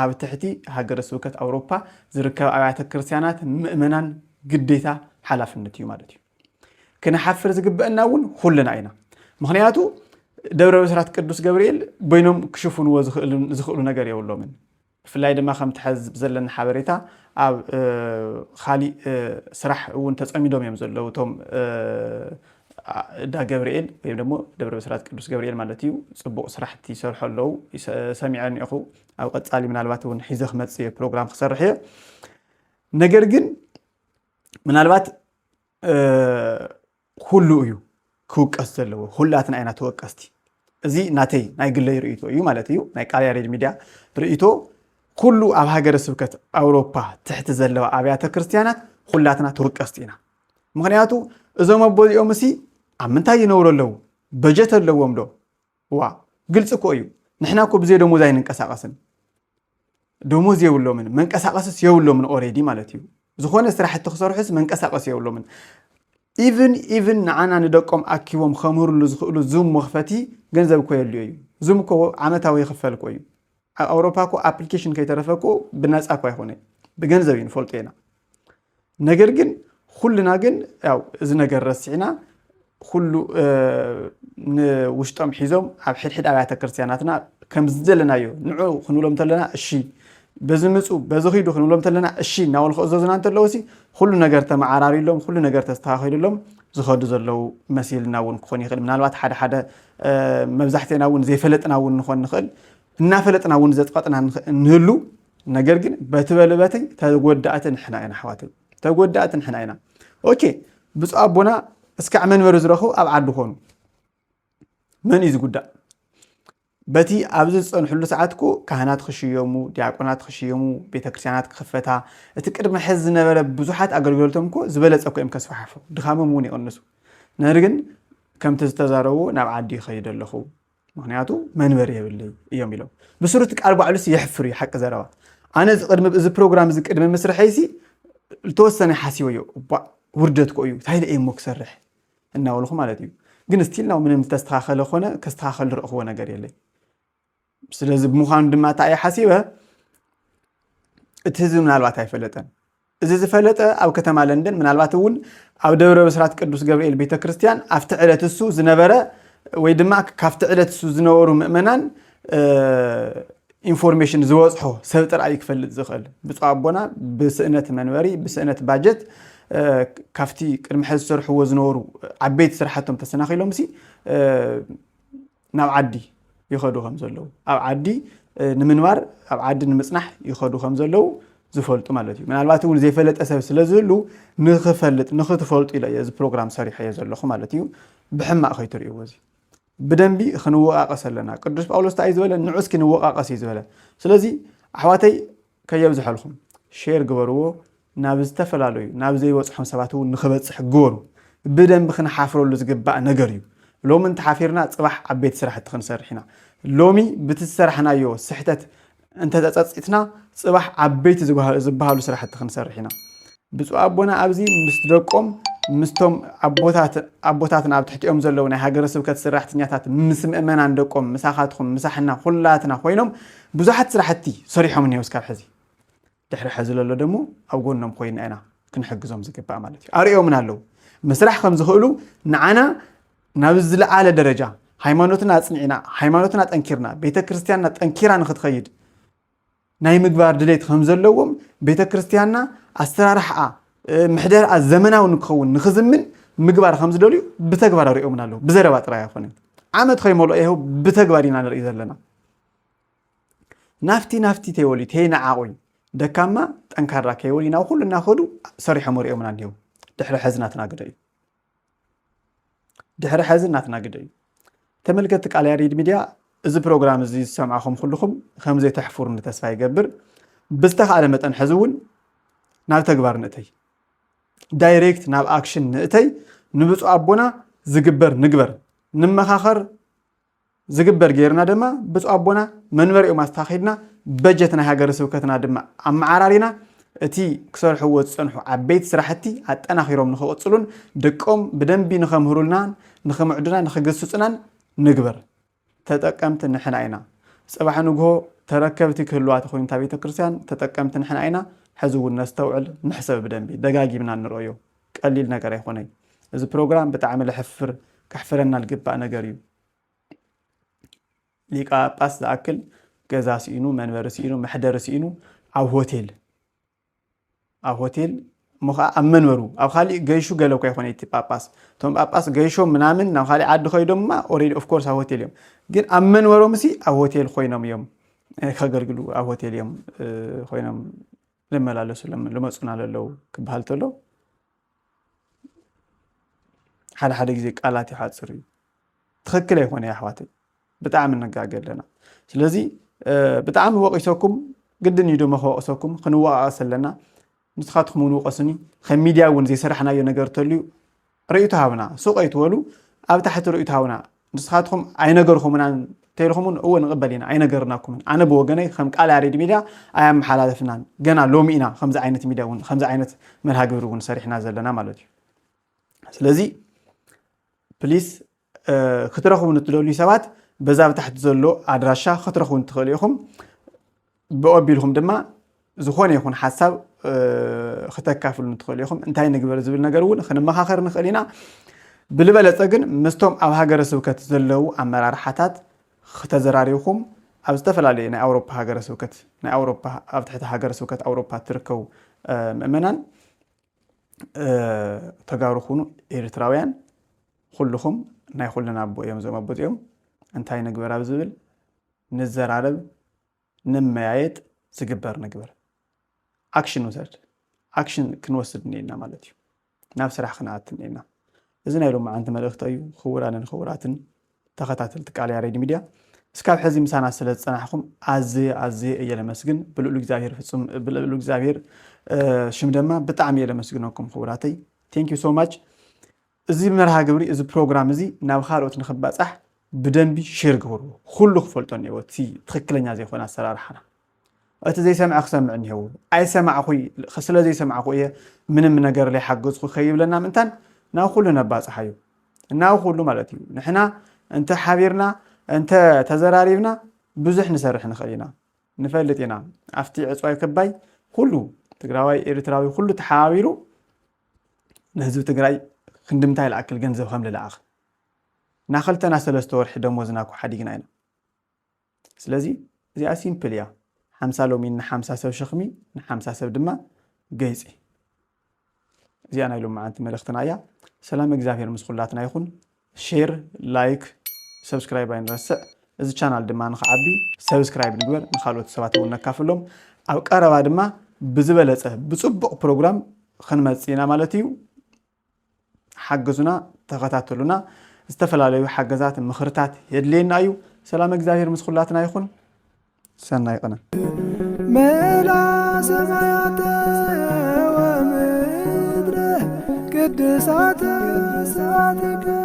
ኣብ ትሕቲ ሃገረ ስብከት ኣውሮፓ ዝርከባ ኣብያተ ክርስቲያናት ምእመናን ግዴታ ሓላፍነት እዩ ማለት እዩ። ክንሓፍር ዝግበአና እውን ኹልና ኢና። ምክንያቱ ደብረ ብስራት ቅዱስ ገብርኤል በይኖም ክሽፍንዎ ዝኽእሉ ነገር የብሎምን። ብፍላይ ድማ ከምቲ ሐዚ ብዘለኒ ሓበሬታ ኣብ ኻሊእ ስራሕ እውን ተፀሚዶም እዮም ዘለዉ እቶም እዳ ገብርኤል ወይም ደሞ ደብረ ብስራት ቅዱስ ገብርኤል ማለት እዩ ፅቡቕ ስራሕቲ ይሰርሑ ኣለዉ ሰሚዐ እኒኦኹ ኣብ ቐፃሊ ምናልባት እውን ሒዘ ክመፅ እየ ፕሮግራም ክሰርሕ እየ ነገር ግን ምናልባት ኩሉ እዩ ክውቀስ ዘለዎ፣ ኩላትና ኢና ተወቀስቲ። እዚ ናተይ ናይ ግለይ ርእይቶ እዩ ማለት እዩ፣ ናይ ቃል ያሬድ ሚድያ ርእይቶ። ኩሉ ኣብ ሃገረ ስብከት ኣውሮፓ ትሕቲ ዘለዋ ኣብያተ ክርስትያናት ኩላትና ተወቀስቲ ኢና። ምክንያቱ እዞም ኣቦዚኦም እሲ ኣብ ምንታይ ይነብሩ ኣለዉ? በጀት ኣለዎም ዶ? እዋ ግልፂ እኮ እዩ ንሕና እኮ ብዘይ ደሞዝ ኣይንንቀሳቀስን ደሞዝ የብሎምን መንቀሳቀስስ የብሎምን ኦሬዲ ማለት እዩ ዝኾነ ስራሕቲ ክሰርሑስ መንቀሳቀስ የብሎምን ኢቭን ኢቭን ንዓና ንደቆም ኣኪቦም ከምህርሉ ዝኽእሉ ዙም መኽፈቲ ገንዘብ እኮ የድልዮ እዩ ዙም እኮ ዓመታዊ ይኽፈል እኮ እዩ ኣብ ኣውሮፓ እኮ ኣፕሊኬሽን ከይተረፈ እኮ ብነፃ እኮ ኣይኮነ ብገንዘብ እዩ ንፈልጦ ኢና ነገር ግን ኩልና ግን ያው እዚ ነገር ረሲዕና ኩሉ ንውሽጦም ሒዞም ኣብ ሕድሕድ ኣብያተ ክርስቲያናትና ከም ዘለናዮ ንዑ ክንብሎም እንተለና እሺ በዚ ምፁ በዚ ኺዱ ክንብሎም እንተለና እሺ እናበሉ ክእዘዙና እንተለዉ ሲ ኩሉ ነገር ተመዓራሪሎም ኩሉ ነገር ተስተኻኺሉሎም ዝኸዱ ዘለዉ መሲልና እውን ክኾን ይኽእል ምናልባት ሓደ ሓደ መብዛሕትና እውን ዘይፈለጥና እውን ንኾን ንኽእል እናፈለጥና እውን ዘፅቐጥና ንህሉ ነገር ግን በቲ በልበትይ ተጎዳእቲ ንሕና ኢና ኣሕዋት ተጎዳእቲ ንሕና ኢና ኦኬ ብፁዕ ኣቦና እስካዕ መንበሪ ዝረኽቡ ኣብ ዓዲ ኮኑ መን እዩ ዝጉዳእ በቲ ኣብዚ ዝፀንሕሉ ሰዓት እኮ ካህናት ክሽየሙ ዲያቆናት ክሽየሙ ቤተክርስትያናት ክኽፈታ እቲ ቅድሚ ሕዚ ዝነበረ ብዙሓት ኣገልግሎቶም እኮ ዝበለፀ እኮ እዮም ከስፋሓፉ ድኻሞም እውን ይቕንሱ ነር ግን ከምቲ ዝተዛረቡ ናብ ዓዲ ይኸይደ ኣለኹ ምክንያቱ መንበሪ የብለይ እዮም ኢሎም ብስሩ እቲ ቃል ባዕሉ ሲ የሕፍር እዩ ሓቂ ዘረባ ኣነ እዚ ቅድሚ እዚ ፕሮግራም እዚ ቅድሚ ምስርሐይ ሲ ዝተወሰነ ሓሲበዮ እባ ውርደት ኮ እዩ እንታይ ኢለ እሞ ክሰርሕ እናበልኩ ማለት እዩ ግን ስቲል ናው ምንም ዝተስተኻኸለ ኮነ ከስተኻኸል ዝረእኽዎ ነገር የለይ ስለዚ ብምዃኑ ድማ እንታይ እየ ሓሲበ እቲ ህዝቢ ምናልባት ኣይፈለጠን እዚ ዝፈለጠ ኣብ ከተማ ለንደን ምናልባት እውን ኣብ ደብረ ብስራት ቅዱስ ገብርኤል ቤተ ክርስቲያን ኣብቲ ዕለት እሱ ዝነበረ ወይ ድማ ካብቲ ዕለት እሱ ዝነበሩ ምእመናን ኢንፎርሜሽን ዝበፅሖ ሰብ ጥራይ እዩ ክፈልጥ ዝኽእል። ብፁዕ ኣቦና ብስእነት መንበሪ ብስእነት ባጀት ካብቲ ቅድሚ ሕዚ ዝሰርሕዎ ዝነበሩ ዓበይቲ ስራሕቶም ተሰናኺሎም ሲ ናብ ዓዲ ይኸዱ ከም ዘለዉ ኣብ ዓዲ ንምንባር ኣብ ዓዲ ንምጽናሕ ይኸዱ ከም ዘለዉ ዝፈልጡ ማለት እዩ ምናልባት እውን ዘይፈለጠ ሰብ ስለ ዝህሉ ንክፈልጥ ንክትፈልጡ ኢለ እየ እዚ ፕሮግራም ሰሪሐዮ ዘለኹ ማለት እዩ ብሕማቅ ከይትርእይዎ እዚ ብደንቢ ክንወቃቀስ ኣለና ቅዱስ ጳውሎስ እንታይ ዝበለ ንዑ እስኪ ንወቃቀስ እዩ ዝበለ ስለዚ ኣሕዋተይ ከየብዝሐልኹም ሼር ግበርዎ ናብ ዝተፈላለዩ ናብ ዘይበጽሖም ሰባት እውን ንኽበጽሕ ግበሩ ብደንቢ ክንሓፍረሉ ዝግባእ ነገር እዩ ሎሚ እንተሓፊርና ጽባሕ ዓበይቲ ስራሕቲ ክንሰርሕ ኢና ሎሚ ብቲ ዝሰራሕናዮ ስሕተት እንተተጸጺትና ጽባሕ ዓበይቲ ዝበሃሉ ስራሕቲ ክንሰርሕ ኢና ብፁዕ ኣቦና ኣብዚ ምስ ደቆም ምስቶም ኣቦታትና ኣብ ትሕቲኦም ዘለዉ ናይ ሃገረ ስብከት ስራሕተኛታት ምስ ምእመናን ደቆም ምሳኻትኩም ምሳሕና ኩላትና ኮይኖም ብዙሓት ስራሕቲ ሰሪሖም እኒሄው እስካብ ሕዚ ድሕሪ ሕዚ ዘሎ ደሞ ኣብ ጎኖም ኮይና ኢና ክንሕግዞም ዝግባእ ማለት እዩ ኣርእዮምና ኣለዉ ምስራሕ ከም ዝኽእሉ ንዓና ናብ ዝለዓለ ደረጃ ሃይማኖትና ኣፅኒዕና ሃይማኖትና ጠንኪርና ቤተ ክርስቲያንና ጠንኪራ ንክትኸይድ ናይ ምግባር ድሌት ከም ዘለዎም ቤተ ክርስቲያንና ኣሰራርሓኣ ምሕደርኣ ዘመናዊ ንክኸውን ንክዝምን ምግባር ከም ዝደልዩ ብተግባር ኣሪኦምን ኣለዉ ብዘረባ ጥራይ ኣይኮነን ዓመት ከይመልኦ ይኸው ብተግባር ኢና ንርኢ ዘለና ናፍቲ ናፍቲ ተይበሉ ተይነዓቑይ ደካማ ጠንካራ ከይበሉ ኢና ኩሉ እናኸዱ ሰሪሖም ኣሪኦምና እኒሄው ድሕሪ ሕዚ ናትና ግደ እዩ ድሕሪ ሐዚ ናትና ግደ እዩ ተመልከትቲ ቃል ያሬድ ሚድያ እዚ ፕሮግራም እዚ ዝሰምዕኹም ኩልኹም ከምዘይተሕፍሩኒ ተስፋ ይገብር ብዝተኻእለ መጠን ሕዚ እውን ናብ ተግባር ንእተይ ዳይሬክት ናብ ኣክሽን ንእተይ ንብፁዕ ኣቦና ዝግበር ንግበር ንመኻኸር ዝግበር ገይርና ድማ ብፁዕ ኣቦና መንበሪኦም ኣስታኺድና በጀት ናይ ሃገረ ስብከትና ድማ ኣመዓራሪና እቲ ክሰርሕዎ ዝፀንሑ ዓበይቲ ስራሕቲ ኣጠናኺሮም ንክቕፅሉን ደቆም ብደንቢ ንከምህሩልናን ንክምዕዱና ንክግስፁናን ንግበር። ተጠቀምቲ ንሕና ኢና። ፅባሕ ንግሆ ተረከብቲ ክህልዋ ተኾይኑ እታ ቤተ ክርስቲያን ተጠቀምቲ ንሕና ኢና። ሕዚ እውን ነስተውዕል፣ ንሕሰብ ብደንቢ ደጋጊምና ንርእዮ። ቀሊል ነገር ኣይኾነይ እዚ ፕሮግራም ብጣዕሚ ለሕፍር ከሕፍረና ልግባእ ነገር እዩ ሊቃጳስ ዝኣክል ገዛ ስኢኑ መንበሪ ስኢኑ መሕደሪ ስኢኑ ኣብ ሆቴል ኣብ ሆቴል እሞ ከዓ ኣብ መንበሩ ኣብ ካሊእ ገይሹ ገለ እኳ ይኮነ እቲ ጳጳስ እቶም ጳጳስ ገይሾም ምናምን ናብ ካሊእ ዓዲ ከይዶምማ ኦሬዲ ኦፍኮርስ ኣብ ሆቴል እዮም ግን ኣብ መንበሮም ሲ ኣብ ሆቴል ኮይኖም እዮም ከገልግሉ ኣብ ሆቴል እዮም ኮይኖም ልመላለሱሎም ልመፁና ለለው ክበሃል ተሎ ሓደ ሓደ ግዜ ቃላት ይሓፅር እዩ ትክክል ኣይኮነ ኣሕዋተይ ብጣዕሚ ንጋገ ኣለና ስለዚ ብጣዕሚ ወቂሰኩም ግድን እዩ ድማ ከወቅሰኩም ክንወቃቀስ ኣለና ንስኻትኩም እውን ውቀሱኒ ከም ሚድያ እውን ዘይሰራሕናዮ ነገር ተልዩ ርእይቶ ሃቡና ሱቕ ኣይትበሉ ኣብ ታሕቲ ርእይቶ ሃቡና ንስኻትኩም ኣይነገርኹሙናን ተልኹሙን እወ ንቕበል ኢና ኣይነገርናኩምን ኣነ ብወገነይ ከም ቃል ያሬድ ሚድያ ኣያመሓላለፍናን ገና ሎሚ ኢና ከምዚ ዓይነት ሚድያ እውን ከምዚ ዓይነት መርሃ ግብሪ እውን ሰሪሕና ዘለና ማለት እዩ ስለዚ ፕሊስ ክትረኽቡ ንትደልዩ ሰባት በዛ ብታሕቲ ዘሎ ኣድራሻ ክትረኽቡ ንትኽእሉ ኢኹም ብኦቢልኩም ድማ ዝኾነ ይኹን ሓሳብ ክተካፍሉ ንትኽእሉ ኢኹም እንታይ ንግበር ዝብል ነገር እውን ክንመኻኸር ንኽእል ኢና ብልበለፀ ግን ምስቶም ኣብ ሃገረ ስብከት ዘለዉ ኣመራርሓታት ክተዘራሪብኩም ኣብ ዝተፈላለየ ናይ ኣውሮፓ ሃገረ ስብከት ናይ ኣውሮፓ ኣብ ትሕቲ ሃገረ ስብከት ኣውሮፓ ትርከቡ ምእመናን ተጋሩ ኩኑ ኤርትራውያን ኹሉኹም ናይ ኹልና ኣቦ እዮም እዞም ኣቦ እዚኦም እንታይ ንግበር ኣብ ዝብል ንዘራረብ ንመያየጥ ዝግበር ንግበር ኣክሽን ውሰድ ኣክሽን ክንወስድ እኒኤና ማለት እዩ ናብ ስራሕ ክንኣት እኒኤና እዚ ናይ ሎማዓንቲ መልእኽቲ እዩ ክቡራንን ክቡራትን ተኸታተልቲ ቃል ያሬድ ሚድያ እስካብ ሕዚ ምሳና ስለ ዝፀናሕኹም ኣዝየ ኣዝየ እየ ለመስግን ብልእሉ እግዚኣብሔር ፍፁም ብልእሉ እግዚኣብሔር ሽም ደማ ብጣዕሚ እየ ለመስግነኩም ክቡራተይ ቴንክ ዩ ሶ ማች እዚ መርሃ ግብሪ እዚ ፕሮግራም እዚ ናብ ካልኦት ንክባፃሕ ብደንቢ ሼር ግበርዎ ኩሉ ክፈልጦ እኒሀዎ እቲ ትክክለኛ ዘይኮነ ኣሰራርሓና እቲ ዘይሰምዐ ክሰምዕ እኒሀዎ ኣይሰማዕኹ ስለ ዘይሰማዕኹ እየ ምንም ነገር ዘይሓገዝኩ ከይብለና ምእንታን ናብ ኩሉ ነባፅሓዩ ናብ ኩሉ ማለት እዩ ንሕና እንተ ሓቢርና እንተ ተዘራሪብና ብዙሕ ንሰርሕ ንኽእል ኢና ንፈልጥ ኢና ኣብቲ ዕፅዋይ ክባይ ኩሉ ትግራዋይ ኤርትራዊ ኩሉ ተሓባቢሩ ንህዝቢ ትግራይ ክንድምንታይ ልኣክል ገንዘብ ከምልልኣኽ እና ኸልተና ሰለስተ ወርሒ ደሞዝና እኮ ሓዲግና ኢና ስለዚ እዚኣ ሲምፕል እያ ሓምሳ ሎሚን ንሓምሳ ሰብ ሸኽሚ ንሓምሳ ሰብ ድማ ገይፂ እዚኣ ናይ ሎመዓንቲ መልእኽትና እያ ሰላም እግዚኣብሔር ምስ ኹላትና ይኹን ሼር ላይክ ሰብስክራይብ ኣይንረስዕ እዚ ቻናል ድማ ንክዓቢ ሰብስክራይብ ንግበር ንካልኦት ሰባት እውን ነካፍሎም ኣብ ቀረባ ድማ ብዝበለፀ ብፅቡቕ ፕሮግራም ክንመፅእ ኢና ማለት እዩ ሓግዙና ተኸታተሉና ዝተፈላለዩ ሓገዛት ምኽርታት የድልየና እዩ ሰላም እግዚኣብሔር ምስ ኩላትና ይኹን ሰናይ ቅነ መላ ሰማያተ ወምድረ ቅድሳተ ስብሐትከ